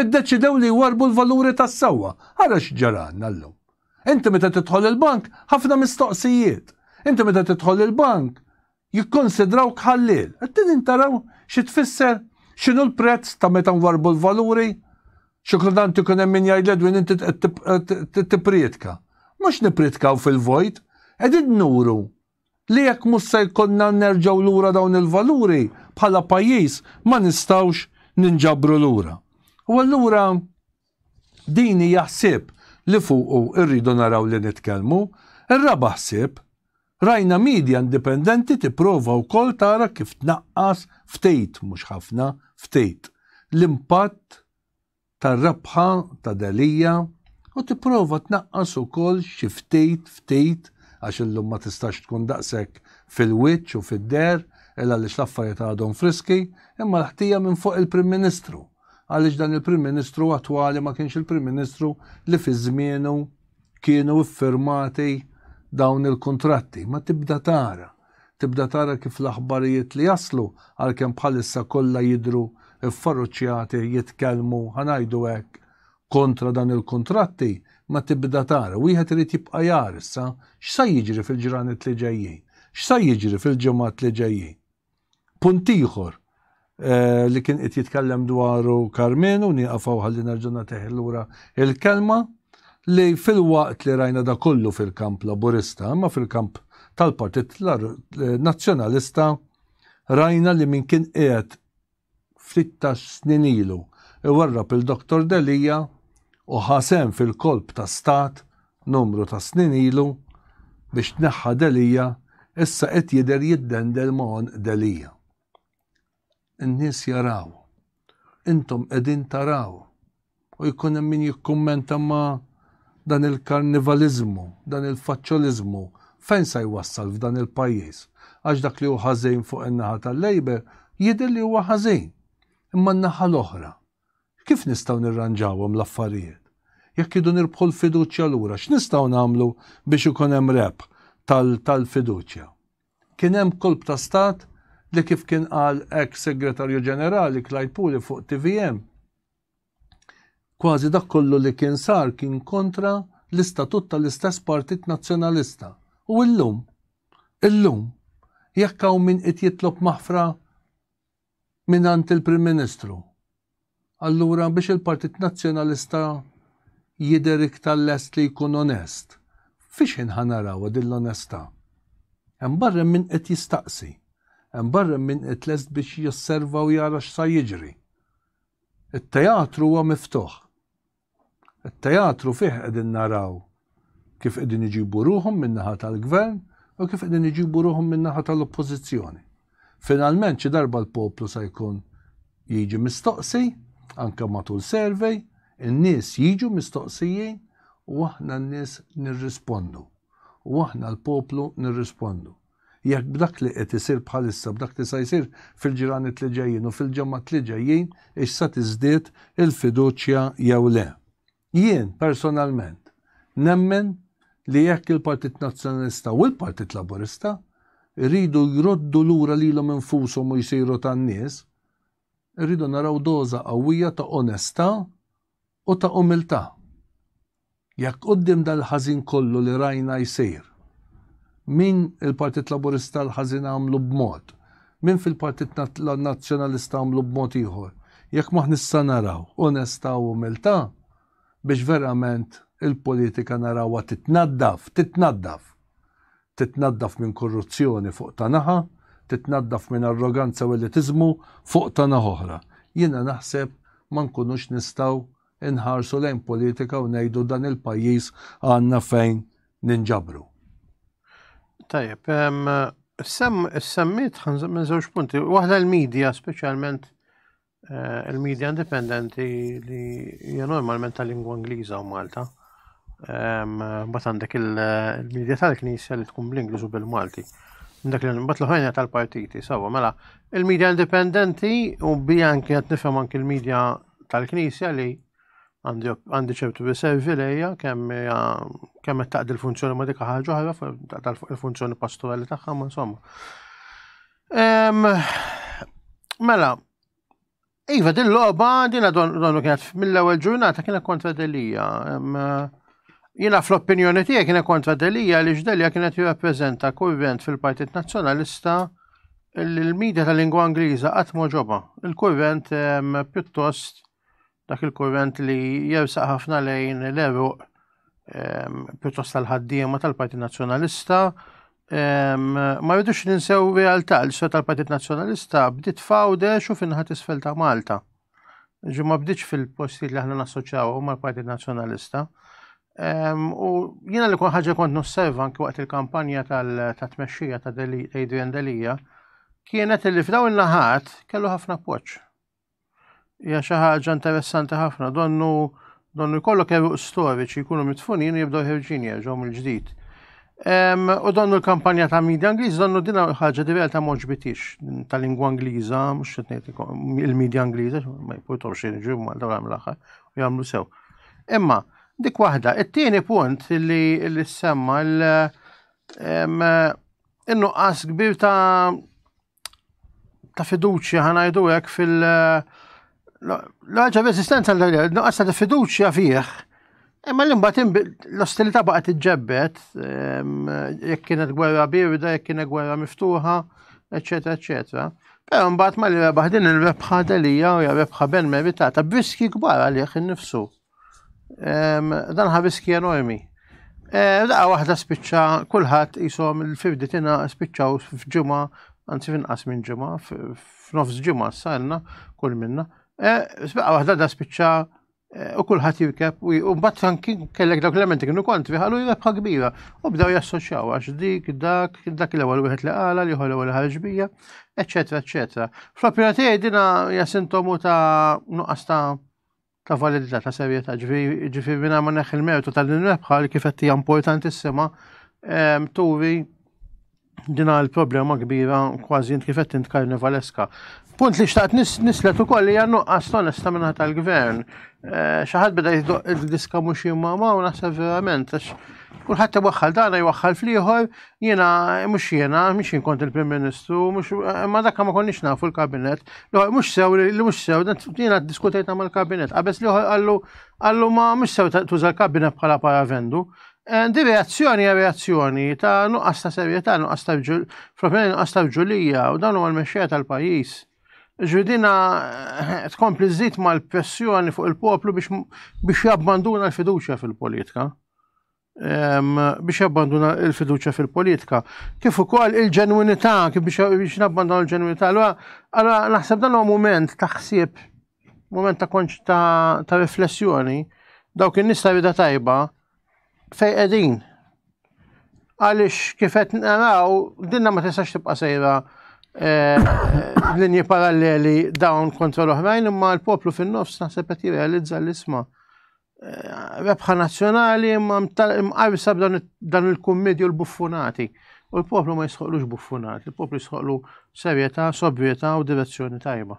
Iddeċidew li jwarbu l-valuri tas-sewwa. Ara x'ġaralna llum. Inti meta tidħol il-bank, ħafna mistoqsijiet. Inti meta tidħol il-bank, jikkunsidrawk ħalliel. Qegħdin taraw xi tfisser? X'inhu l-prezz ta' meta nwarrbu l-valuri? Xi kultant ikun hemm min jgħid l-Edwin inti qed tippriedka. Mhux nippriedkaw fil-vojt, qegħdin nuru li jekk mhux se jkollna nerġgħu lura dawn il-valuri, bħala pajjiż ma nistgħux ninġabru lura. U allura Din hija ħsieb li fuqu rridu naraw li nitkellmu. Ir-raba' ħsieb, rajna media indipendenti tipprova wkoll tara kif tnaqqas ftit, mhux ħafna, ftit, l-impatt tar-rebħa ta' Delia u tipprova tnaqqas ukoll xi ftit, ftit, għax illum ma tistax tkun daqshekk fil-wiċċ u fid-deher, il għaliex l-affarijiet għadhom friski, imma l-ħtija minn fuq il-Prim Ministru. għaliex dan il-Prim Ministru attwali ma kienx il-Prim Ministru li fi żmienu kienu iffirmati dawn il-kuntratti. Ma tibda tara, tibda tara kif l-aħbarijiet li jaslu għalkemm bħalissa kollha jidhru ffaruċċjati jitkellmu ħanajdu hekk kontra dan il-kuntratti, ma tibda tara. Wieħed irid jibqa' jara issa x'sa jiġri fil-ġranet li ġejjin, x'sa jiġri fil-ġimgħat li ġejjin. Punt ieħor eh, li kien qed jitkellem dwaru Karmenu nieqafaw ħalli nerġa' nagħtih lura il-kelma li fil-waqt li rajna da kollu fil-kamp laburista, imma fil-kamp tal-Partit Nazzjonalista rajna li min kien qiegħed ftit tas-snin ilu iwarrab lil Doctor Delia u ħa sehem fil-kolp ta' stat numru ta' snin ilu biex tneħħa Delia issa qed jidher jiddendel ma' għonq Delia. In-nies jaraw. Intom qegħdin taraw. U jkun hemm min jikkummenta ma dan il-karnivaliżmu, dan il-faċċoliżmu fejn sa jwassal f'dan il-pajjiż? Għax dak li hu ħażin fuq in-naħa tal-Labour jidher li huwa ħażin. Imma n-naħa l-oħra, kif nistgħu nirranġawhom l-affarijiet? Jekk iridu nirbħu l-fiduċja lura, x'nistgħu nagħmlu biex ikun hemm rebħ tal-fiduċja? Kien hemm kolp ta' stat li kif kien qal ex Segretarju Ġenerali Clyde Puli fuq TVM, Kważi dak kollu li kien sar kien kontra l-istatut tal-istess Partit Nazzjonalista. U illum? Illum? Jekk hawn min qied jitlob maħfra mingħand il-Prim Ministru, allura biex il-Partit Nazzjonalista jidher iktar lest li jkun onest, fiex ħin ħa narawha din l-onestà? Hemm barra hemm min qed jistaqsi. Hemm barra hemm min qed lest biex josserva u jara x'sa jiġri. It-teatru huwa miftuħ. It-teatru fih qegħdin naraw kif qegħdin iġibu ruħhom min-naħa tal-Gvern u kif qegħdin iġibu ruħhom min-naħa tal-Oppożizzjoni. Finalment xi darba l-poplu se jkun jiġi mistoqsi, anke matul survey, in-nies jiġu mistoqsijin u aħna n-nies nirrispondu. U aħna l-poplu nirrispondu. Jekk b'dak li qed isir bħalissa, b'dak li sa jsir fil-ġranet li ġejjin u fil-ġemgħat li ġejjin, hix sa tiżdied il-fiduċja jew le. Jien, personalment, nemmen li jekk il-Partit Nazzjonalista u l-Partit Laburista jridu jroddu lura lilhom infushom u jsiru tan-nies, irridu naraw doża qawwija ta' onestà U ta' umiltà. Jekk quddiem dal-ħażin kollu li rajna jsir, min il-Partit Laburista l-ħażin għamlu b'mod, min fil-Partit Nazzjonalista għamlu b'mod ieħor, jekk m'aħna nista' naraw onestà u umiltà biex verament il-politika narawha titnaddaf, titnaddaf! titnaddaf minn korruzzjoni fuq ta' naħa, titnaddaf minn arroganza u elitiżmu fuq ta' naħa oħra. Jiena naħseb ma nkunux nistgħu nħarsu lejn politika u ngħidu dan il-pajjiż għandna fejn ninġabru. Tajjeb, is-semmiet ħanżem minn żewġ punti. Waħda l-medja speċjalment Eh, il-medja indipendenti li hija normalment ta' lingwa Ingliża u Malta. Mbagħad għandek il-medja tal-Knisja li tkun bl-Ingliż u bil-Malti. Dak li mbagħad l-ħajna tal-partiti, sawa, mela il-medja indipendenti u bija anke qed nifhem anke il-medja tal-Knisja li għandi ċertu riservi lejja kemm kemm qed taqdi l-funzjoni ma' dik ħaġa oħra tal-funzjoni pastorali tagħha, ma insomma. Mela, Iva, din loba, din donnu kienet mill-ewel ġurnata kienet kontra Delija. Jina fl-opinjoni tiegħi kienet kontra Delija li ġdelija kienet jirrappreżenta kurrent fil-Partit Nazzjonalista l-medja tal-lingwa Ingliża qatt ġoba. Il-kurrent pjuttost dak il-kurrent li jersaq ħafna lejn l-eruq ehm, pjuttost tal-ħaddiema tal-Partit Nazzjonalista. Ehm, ma rridux ninsew realtà li sota tal-Partit Nazzjonalista bdiet fawdex u finħat isfel ta' Malta. Ġi ma bdiċ fil-postijiet li aħna nassoċjaw mal-Partit Nazzjonalista. Ehm, u jiena li kun ħaġa kont nosserva anki waqt il-kampanja tal-tmexxija ta' Adrian Delija, kienet li f'daw il-naħat kellu ħafna poċ. Hija xi ħaġa interessanti ħafna, donnu donnu jkollok eruq storiċi jkunu mitfunin u jibdew ħerġin jerġgħu mill-ġdid. U donnu l-kampanja ta' media Ingliż donnu din ħaġa di realtà moġbitix ta' lingwa Ingliża, mhux qed ngħid il-media Ingliża, ma jpurtaw xejn ġew Malta u l-aħħar u jagħmlu sew. Imma dik waħda, it-tieni punt li l-semma l- innuqqas kbir ta' ta' fiduċja ħanajdu hekk fil- l-ħaġa f'eżistenza nuqqas ta' fiduċja fih. Imma l imbat l-ostilità baqgħet iġġebbet, ehm, jekk kienet gwerra birda, jekk kienet gwerra miftuħa, eċetera, eċetera. Però mbagħad ma li rebaħ din il-rebħa delija u rebħa ben meritata b'riski kbar għalih innifsu. Dan ħabis kien enormi. Eh, Daqa waħda spiċċa kulħadd jisom il-fifditina spiċċaw f'ġimgħa, anzi finqas minn ġimgħa, f'nofs ġimgħa s-salna kull minna. Eh, Sbaqa waħda da spiċċa eh, u kulħadd jirkeb u mbagħad anki kellek dawk l-elementi kienu kontri ħalu jirebħa kbira u bdew jassoċjaw għax dik dak dak l-ewwel wieħed li qala li ħol ewwel ħarġ bija, eċetera, eċetera. Fl-opinjoni tiegħi dina hija sintomu ta' nuqqas ta' ta' validità ta' serjetà, ġifieri minn ma neħħi l-mertu ta' din rebħa li kif qed hija importantissima ehm, turi din għal problema kbira kważi kif qed int karnivaleska. Punt li xtaqt nislet ukoll hija nuqqas tonesta minna tal-gvern. Eh, xi ħadd beda jiddiska mhux jimma u naħseb verament għax kulħadd iwaħħal dana jwaħħal fl-ieħor Jiena, mhux jiena, mhux jien kont il-Prim Ministru, mhux imma dak ma konniex nafu l-kabinet. Mhux sew li mhux sew, jiena ddiskutejna mal-kabinet. Qabeż li għallu għallu ma mhux sew tuża l-kabinet bħala paravendu. Eh, di reazzjoni hija reazzjoni ta' nuqqas ta' serjetà, nuqqas ta' fl-opinjoni nuqqas ta' ġulija u dawn huma l-mexxejja tal-pajjiż. Ġudina eh, tkompli żid mal-pressjoni fuq il-poplu biex jabbanduna l-fiduċja fil-politika. biex jabbanduna il-fiduċa fil-politika. Kif ukoll il-ġenwinità, kif biex nabbanduna l-ġenwinità. Allora, naħseb dan huwa moment ta' ħsieb, moment ta' konċ ta' riflessjoni, dawk in-nies ta' rida tajba fej qegħdin. Għaliex kif qed naraw, dinna ma tistax tibqa' sejra eh, linji paralleli dawn kontra l-oħrajn, imma l-poplu fin-nofs naħseb qed jirrealizza l-isma' Eh, rebħa nazzjonali imma mqajsa dan il-kummedju l-buffunati. U l-poplu ma jisħoqlux buffunati, l-poplu jisħoqlu serjetà, sobrietà u direzzjoni tajba.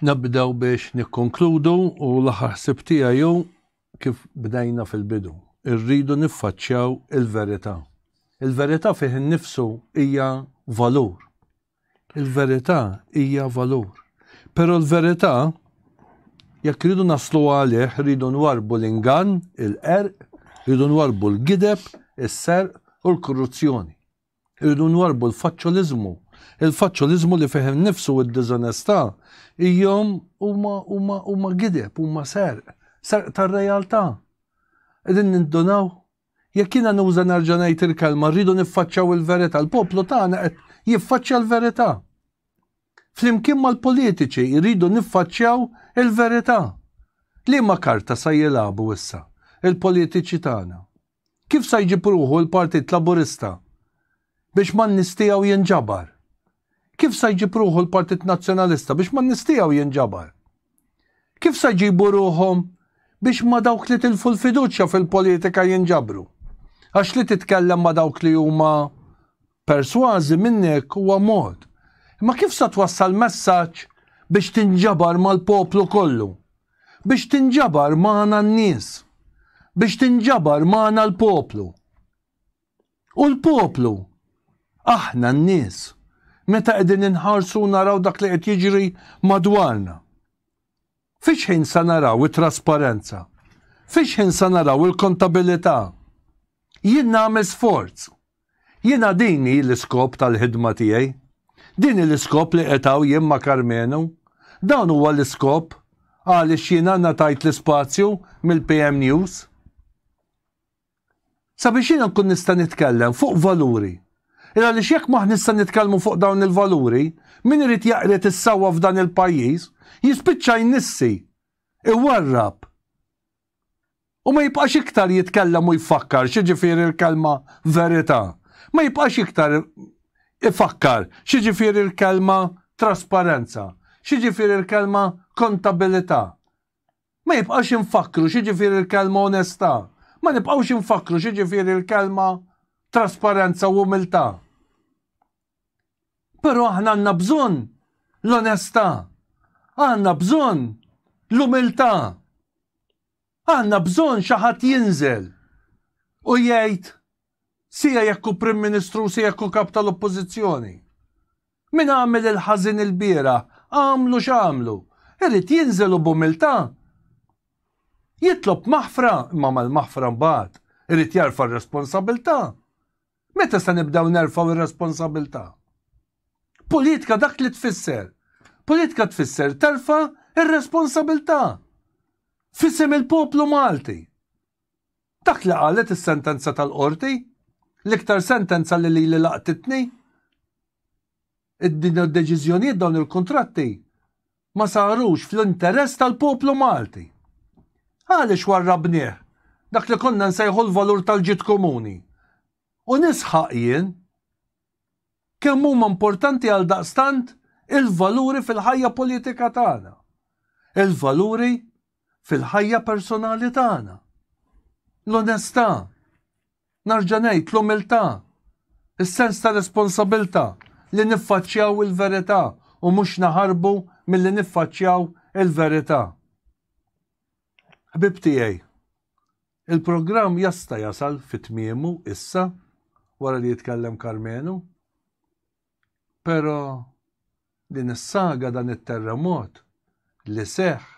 Nabdew biex nikkonkludu u l-aħħar ħsib tiegħi kif bdejna fil-bidu. Irridu niffaċċjaw il-verità. Il-verità fih innifsu hija valur. Il-verità hija valur. Però l-verità, jekk rridu naslu għalih, rridu nwarbu l-ingann, il-qerq, rridu nwarbu l-gideb, is-serq u l-korruzzjoni. Rridu nwarbu l-faċċoliżmu. Il-faċċoliżmu li fih innifsu u d-diżonestà hijhom huma huma huma gideb, huma serq, serq tar-realtà. Qegħdin nindunaw Jekk jiena nuża nerġa' ngħid il-kelma rridu niffaċċjaw il-verità, l-poplu tagħna qed jiffaċċja l-verità. Flimkien mal-politiċi jridu niffaċċjaw il-verità. Liema karta sa jilagħbu issa il-politiċi tagħna? Kif sa jġib ruħu l-Partit Laburista biex man-nies tiegħu jinġabar? Kif sa jġib ruħu l-Partit Nazzjonalista biex man-nies tiegħu jinġabar? Kif sa jġibu ruħhom biex ma' dawk li tilfu l-fiduċja fil-politika jinġabru? Għax li titkellem ma' dawk li huma persważi minnek huwa mod. Imma kif sa twassal messaġġ biex tinġabar mal-poplu kollu? Biex tinġabar magħna n-nies? Biex tinġabar magħna l-poplu? U l-poplu, aħna n-nies, meta qegħdin inħarsu u naraw dak li qed jiġri madwarna, fiex ħin se naraw it-trasparenza? Fiex ħin se naraw il-kontabilità? Jien nagħmel sforz. Jiena din hi l-iskop tal-ħidma tiegħi. Din hi l-iskop li qed hawn jien ma' Karmenu. Dan huwa l-iskop għaliex jiena ngħatajt l-ispazju mill-PM News. Sabiex jiena nkun nista' nitkellem fuq valuri. Il għaliex jekk m'aħniex se nitkellmu fuq dawn il-valuri, min irid jaqried is-sewwa f'dan il-pajjiż, jispiċċa jnissi, iwarrab. U ma jibqax iktar jitkellem u jfakkar x'jiġifieri l-kelma verità. Ma jibqax iktar ifakkar x'jiġifieri l-kelma trasparenza, x'jiġifieri l-kelma kontabilità. Ma jibqax infakkru x'jiġifieri l-kelma onestà, ma nibqgħux infakkru x'jiġifieri l-kelma trasparenza u umiltà. Però aħna għandna bżonn l-onestà, għandna bżonn l-umiltà. Għandna bżonn xi ħadd jinżel u jgħid Sia jekk hu Prim Ministru u sia jekk hu Kap tal-Oppożizzjoni. Min għamel il-ħażin ilbieraħ, għamlu x'għamlu, irid jinżel u b'umiltà jitlob maħfra imma mal-maħfra mbagħad irid jerfa' r-responsabilità. Meta se nibdew nerfgħu r-responsabilità? Politika dak li tfisser. Politika tfisser terfa' r-responsabilità f'isem il-poplu Malti. Dak li qalet is-sentenza tal-Qorti, l-iktar sentenza li lili laqtitni, id-din id-deċiżjonijiet dawn il-kuntratti ma sarux fl-interess tal-poplu Malti. Għaliex warrabnieh dak li konna nsejħu l-valur tal-ġid komuni? U nisħaq jien kemm huma importanti għaldaqstant il-valuri fil-ħajja politika tagħna, il-valuri fil-ħajja personali tagħna. L-onestà, narġa' ngħid l-umiltà, is-sens ta' responsabilità li niffaċċjaw il-verità u mhux naħarbu milli niffaċċjaw il-verità. Ħbieb tiegħi, il-programm jasta' jasal fi tmiemu issa wara li jitkellem Karmenu. Pero din is-saga dan it-terremot li seħ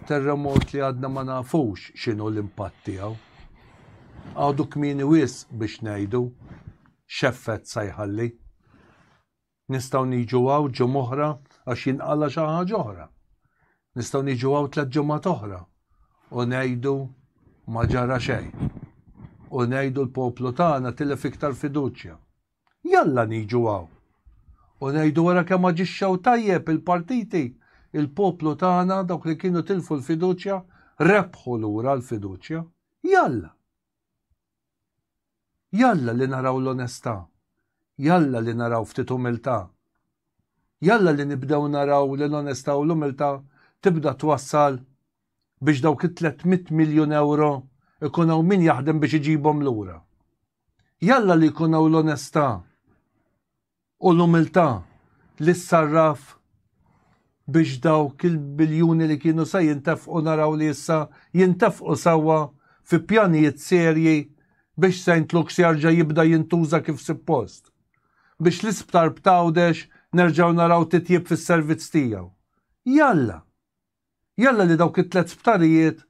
terremot li għadna ma nafux x'inhu l-impatt tiegħu. Għadu kmini wis biex ngħidu x'effett sa jħalli. Nistgħu niġu għaw ġo moħra għax jinqala xi ħaġa oħra. Nistgħu niġu hawn tliet ġimgħat oħra u ngħidu ma ġara xejn. U ngħidu l-poplu tagħna tilef iktar fiduċja. Jalla niġu hawn u ngħidu wara kemm aġixxew tajjeb il-partiti, il-poplu tagħna dawk li kienu tilfu l-fiduċja rebħu lura l-fiduċja. Jalla! Jalla li naraw l-onestà, jalla li naraw ftit umiltà. Jalla li nibdew naraw li l-onestà u l-umiltà tibda twassal biex dawk it-tlett mitt miljun ewro jkun hawn min jaħdem biex iġibhom lura. Jalla li jkun hawn l-onestà. u l-umiltà li ssarraf biex dawk il-biljuni li kienu se jintefqu naraw li issa jintefqu sewwa fi pjanijiet serji biex Saint Luke's jerġa' jibda jintuża kif suppost, biex l-isptar b'Għawdex nerġgħu naraw titjib fis-servizz tiegħu. Jalla! Jalla li dawk it-tliet sptarijiet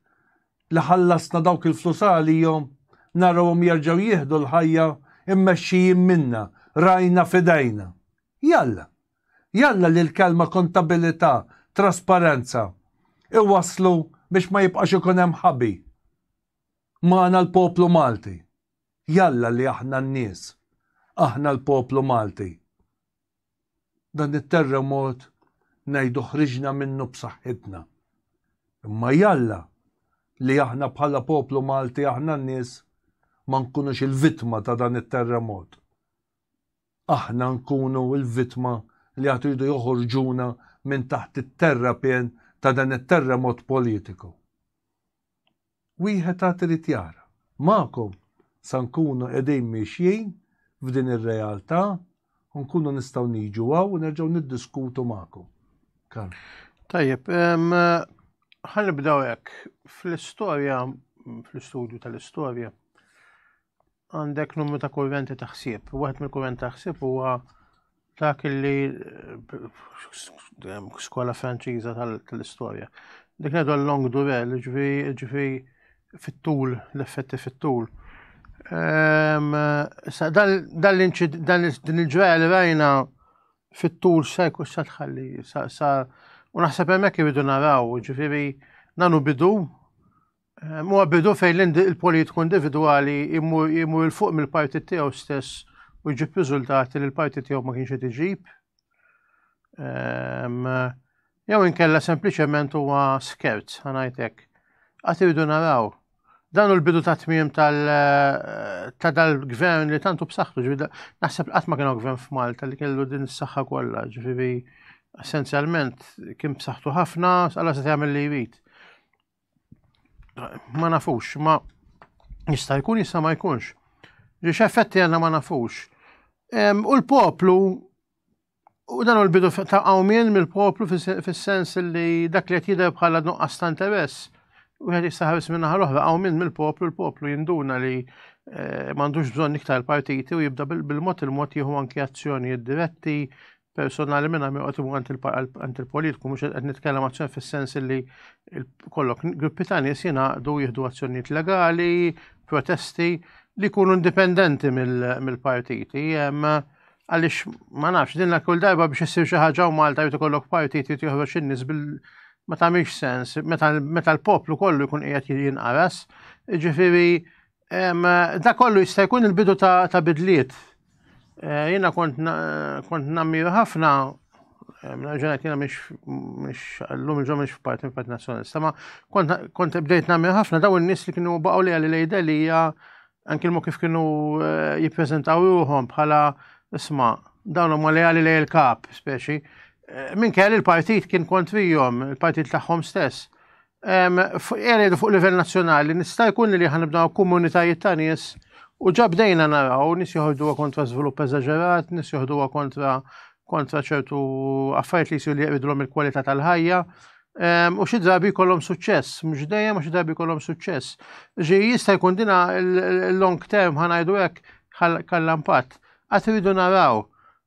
li ħallasna dawk il-flus għalihom narawhom jerġgħu jieħdu l-ħajja mmexxijin minna, rajna f'idejna. Jalla! Jalla li l-kelma kontabilità, trasparenza, iwasslu biex ma jibqax ikun hemm ħabi magħna l-poplu Malti. Jalla li aħna n-nies, aħna l-poplu Malti. Dan it-terremot ngħidu ħriġna minnu b'saħħitna. Imma jalla li aħna bħala poplu Malti aħna n-nies ma nkunux il-vittma ta' dan it-terremot. Aħna nkunu l-vittma li għad iridu joħorġuna minn taħt it-terrapien ta' dan it-terremot politiku. Wieħed għad irid jara. Magħkom sa nkunu qegħdin miexjin f'din ir-realtà u nkunu nistgħu niġu hawn u nerġgħu niddiskutu magħkom. Karl. Tajjeb, ħa nibdew hekk. Fl-istorja, fl-istudju tal-istorja, għandek numru ta' kurrenti ta' ħsieb. Waħed mill-kurrenti ta' ħsieb huwa dak li skola franċiża tal-istorja. Dik ngħidu long durel, ġifi fit-tul, l-effetti fit-tul. Ehm, dan il-ġraja li rajna fit-tul sa jkun sa tħalli, sa u naħseb hemmhekk iridu naraw, ġifieri nanu bidu Huwa bidu fejn il-politiku individwali jmur il fuq mill-partit tiegħu stess u jġib riżultati li l-partit tiegħu ma kienx qed iġib. Ehm, jew inkella sempliċement huwa skerz, ħanajtek. Għat irridu naraw. Dan u l-bidu ta' tmiem eh, ta' dal-gvern li tantu b'saħħtu, ġviri, naħseb qatt ma kienu gvern f'Malta li kellu din is-saħħa kollha, ġviri, essenzjalment kien b'saħħtu ħafna, għalla se tagħmel li jrid. ma nafux, ma jista' jkun jista' ma jkunx. Ġiex effetti għanna ma nafux. U l-poplu, u dan u l-bidu ta' għawmien mill-poplu fis-sens li dak li qed jidher bħala nuqqas ta' interess, u għed jistaħabis minna ħal-oħra, għawmien mill-poplu, l-poplu jinduna li eh, mandux bżon iktar partiti u jibda bil-mod il-mod jieħu anki azzjonijiet diretti, personali minna mi għotimu għant il-politiku, mux għed nitkellem għazzjon fil-sens li kollok gruppi ta' nis jenaqdu jihdu għazzjoniet legali, protesti li kunu indipendenti mill-partiti. Għalix ma nafx, dinna kull darba biex jessir xaħġa u Malta jtu kollok partiti jtu jħroċ nis bil ma ta' sens, meta l-poplu kollu jkun qiegħed jinqaras, ġifiri Da kollu jista' jkun il-bidu ta' bidliet. Eh, jiena kont nammiru ħafna ġenet jena miex l-lum ġo miex f'parti f'parti nazjonalista, ma kont bdejt namir ħafna daw n-nis li kienu baqaw li għalli lejda li hija anki l-mu kif kienu eh, jippreżentaw ruħom bħala isma dawn huma li għalli lej il-kap, speċi. Eh, minn kelli il-partit kien kontrijom, il-partit tagħhom stess. Għalli fuq livell nazzjonali nista' jkun li ħanibdaw komunitajiet ta' nies u ġabdejna naraw nies joħorduha kontra żvilupp eżaġerat, nies joħduha kontra kontra ċertu affarijiet li jsiru li jqridulhom il-kwalità tal-ħajja. U xi drabi jkollhom suċċess, mhux dejjem u xi drabi jkollhom suċċess. Ġi jista' jkun dina l-long term ħanajdu hekk ħalla impatt. Għad iridu naraw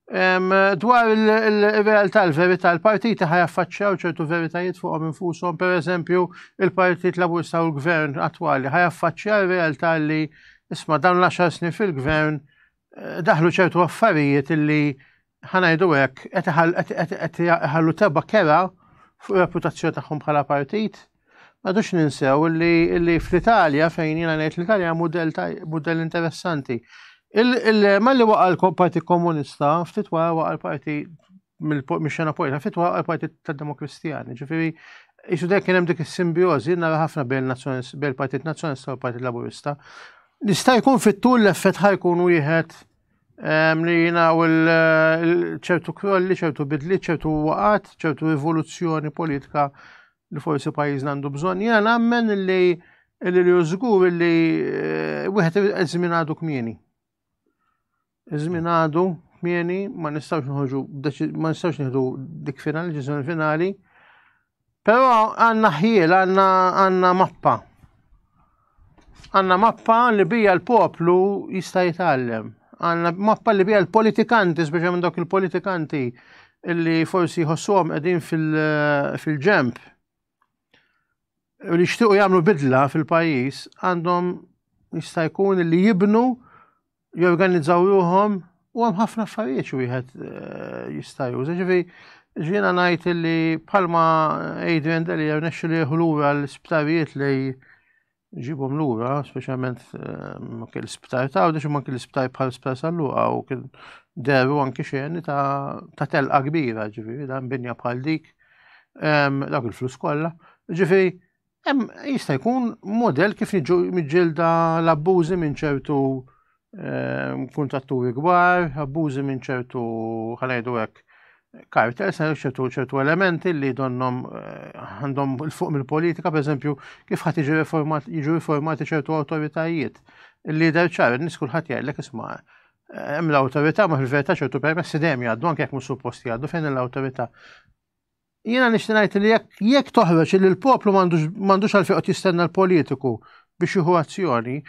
Dwar il-realtà, il-verità, il-partiti ħajaffaċċjaw ċertu veritajiet fuqhom infushom, per eżempju, il-Partit Laburista u l-Gvern attwali ħajaffaċċjaw realtà li isma' dawn l-10 snin fil-Gvern eh, daħlu ċertu affarijiet li ħanajdu hekk qed iħallu teba kera fuq reputazzjoni tagħhom bħala partit Għadux ninsew li fl-Italja, fejn jina ngħid l-Italja mudell interessanti. Malli waqa l-Partit Komunista, ftit wara waqa l-Parti mill-xena politika, ftit wara l-Partit tad-Demokristjani. Ġifieri, jisu dek kien hemm dik is-simbjożi nara ħafna bejn il-Partit Nazzjonalista u l-Partit Laburista. Nista' jkun fit-tul l-effett ħajkun wieħed ehm, li jina u ċertu krolli, ċertu bidli, ċertu waqat, ċertu rivoluzzjoni politika li forsi pajjiżna għandu bżonn. Jiena nammen li li li żgur li eh, wieħed iż-żmien għadu kmieni. Iż-żmien għadu kmieni ma nistgħux nħoġu ma nistgħux nieħdu dik finali, ġisem finali. Però għandna ħjiel, għandna mappa. Għanna mappa li bija l-poplu jista' jitgħallem. Għanna mappa li bija l-politikanti, speċjalment dawk il-politikanti li forsi jħossuhom qegħdin fil-ġemp u li jixtiequ jagħmlu bidla fil-pajjiż għandhom jista' jkun li jibnu jorganizzaw ruhom u hemm ħafna affarijiet wieħed eh, jista' juża. Ġifi, ġiena ngħid li bħalma Adrian Deli rnexxu li lura l-isptarijiet li ġibhom lura, speċjalment eh, kien l-isptar ta' għawdex ma kien l-isptar bħal sptar salluqa u kien deru anki xejn ta' telqa kbira, ġifi, dan binja bħal dik, dawk il-flus kollha. Ġifi, Hemm jista' jkun model kif niġu miġġielda l-abbużi minn ċertu ehm, kuntatturi kbar, abbużi minn ċertu ħanajdu hekk kartel, se ċertu ċertu elementi li donnom eh, għandhom il-fuq mill-politika, per eżempju, kif ħadd jiġu riformati ċertu awtoritajiet. Il-lider ċar, nis kulħadd jgħidlek isma' eh, hemm l-awtorità ma fil-verità ċertu permessi dejjem jgħaddu anke jekk mhux supposti jgħaddu fejn l-awtorità Jiena nixti ngħid li jekk jekk toħroġ li l-poplu m'għandux għalfejn qed jistenna l-politiku biex jieħu azzjoni,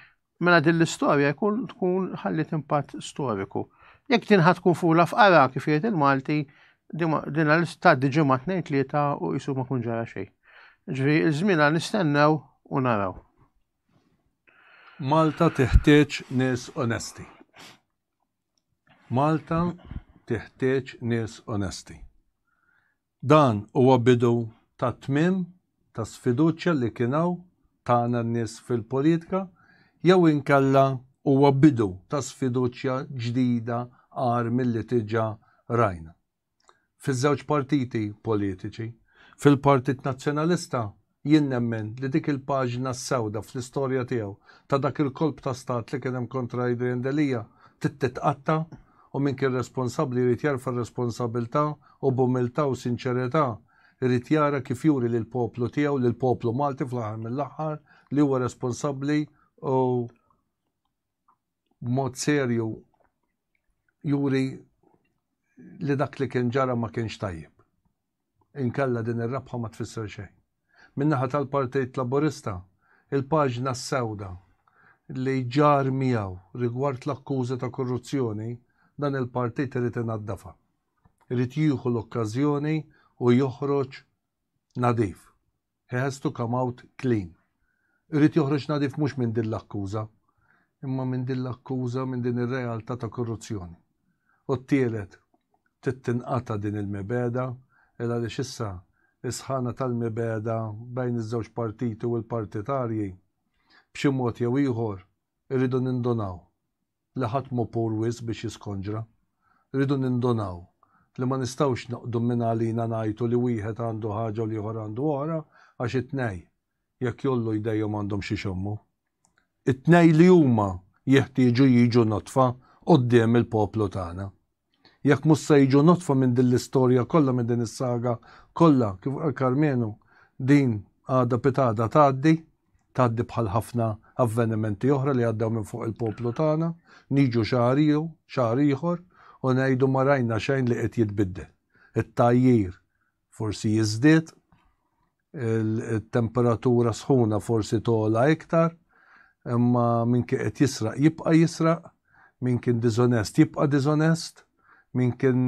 mela din l-istorja jkun tkun ħalliet impatt storiku. Jekk din ħadd tkun fula f'qara kif jgħid il-Malti, din għal tgħaddi ġimgħa tnejn tlieta u qisu ma kun ġara xejn. Ġri iż-żmien għal nistennew u naraw. Malta teħtieġ nies onesti. Malta tiħtieġ nies onesti. Dan huwa bidu tat-tmiem ta' sfiduċja li kien hawn tagħna n-nies fil-politika jew inkella huwa bidu ta' sfiduċja ġdida agħar milli diġà rajna? fiż-żewġ partiti politiċi. Fil-Partit Nazzjonalista jien nemmen li dik il-paġna s-sewda fl-istorja tiegħu ta' dak il-kolp ta' stat li kien hemm kontra Adrian Delia trid titqatta' u min kien responsabbli jrid jerfa' r-responsabilità u b'umiltà u sinċerità jrid jara kif juri lill-poplu tiegħu, lill-poplu Malti fl-aħħar mill-aħħar li huwa responsabbli u b'mod serju juri li dak li kien ġara ma kienx tajjeb. Inkella din ir-rebħa ma tfisser xejn. Min-naħa tal-Partit Laburista, il-paġna s-sewda li ġar miegħu rigward l-akkużi ta' korruzzjoni, dan il-partit irid inaddafha. Irid jieħu l-okkażjoni u joħroġ nadif. He has to come out clean. Irid joħroġ nadif mhux minn din l-akkuża, imma minn din l-akkuża, minn din ir-realtà ta' korruzzjoni. U t-tielet, trid tinqata' din il-mibegħda, il għaliex issa s-sħana tal-mibegħda bejn iż-żewġ partiti u l-partitarji, b'xi mod jew ieħor, irridu nindunaw. li ħadd mhu pur wisq biex jiskonġra. Irridu nindunaw li ma nistgħux noqgħdu minn għalina ngħajtu li wieħed għandu ħaġa u l-ieħor għandu oħra għax it-tnej, jekk jgħollu jdejhom għandhom x'ixommu. It-tnej li huma jeħtieġu jiġu nodfa quddiem il-poplu tagħna. Jekk mhux se jiġu notfa minn din l-istorja kollha minn din is-saga kollha kif qal Karmenu din għada pitgħada tgħaddi, tgħaddi bħal ħafna avvenimenti oħra li għaddew minn fuq il-poplu tagħna, niġu xahar iew, xahar ieħor u ngħidu ma rajna xejn li qed jitbiddel. It-tgħajjir forsi jiżdied Il-temperatura sħuna forsi togħla iktar, imma min kien qed jisraq jibqa' jisraq, min kien diżonest jibqa' diżonest, min kien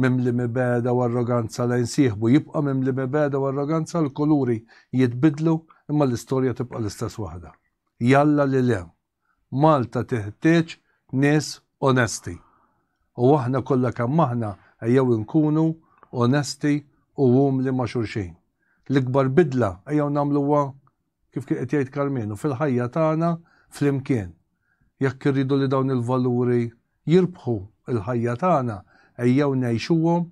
mimli mibegħda u arroganza lejn sieħbu jibqa' mimli mibegħda u arroganza, il-kuluri jitbiddlu imma l-istorja tibqa' l-istess waħda. Jalla li le! Malta teħtieġ nies onesti u aħna kollha kemm aħna ejjew inkunu onesti u umli ma' xulxin. L-ikbar bidla ejjew nagħmluha, kif kien qed jgħid Karmenu, fil-ħajja tagħna flimkien. Jekk irridu li dawn il-valuri jirbħu l-ħajja tagħna, ejjew ngħixuhom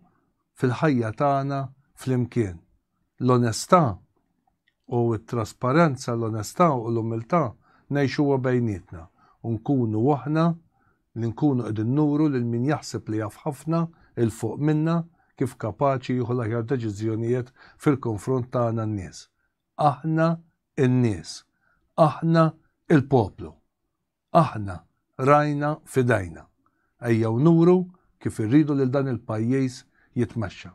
fil-ħajja tagħna flimkien. l-onestà u t-trasparenza, l-onestà u l-umiltà, ngħixuha bejnietna u nkunu aħna li nkunu qegħdin nuru lil min jaħseb li jaf ħafna 'l fuq minna kif kapaċi jieħu l-aħjar deċiżjonijiet fil-konfront tagħna n-nies. Aħna n-nies. Aħna l-poplu. Aħna rajna f'idejna. Ejjew nuru kif irridu lil dan il-pajjiż jitmexxa.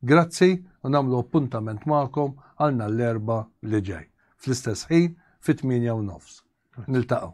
Grazzi u nagħmlu appuntament magħkom għal nhar l-Erbgħa li ġej, fl-istess ħin fit-tmienja u nofs. Niltaqgħu.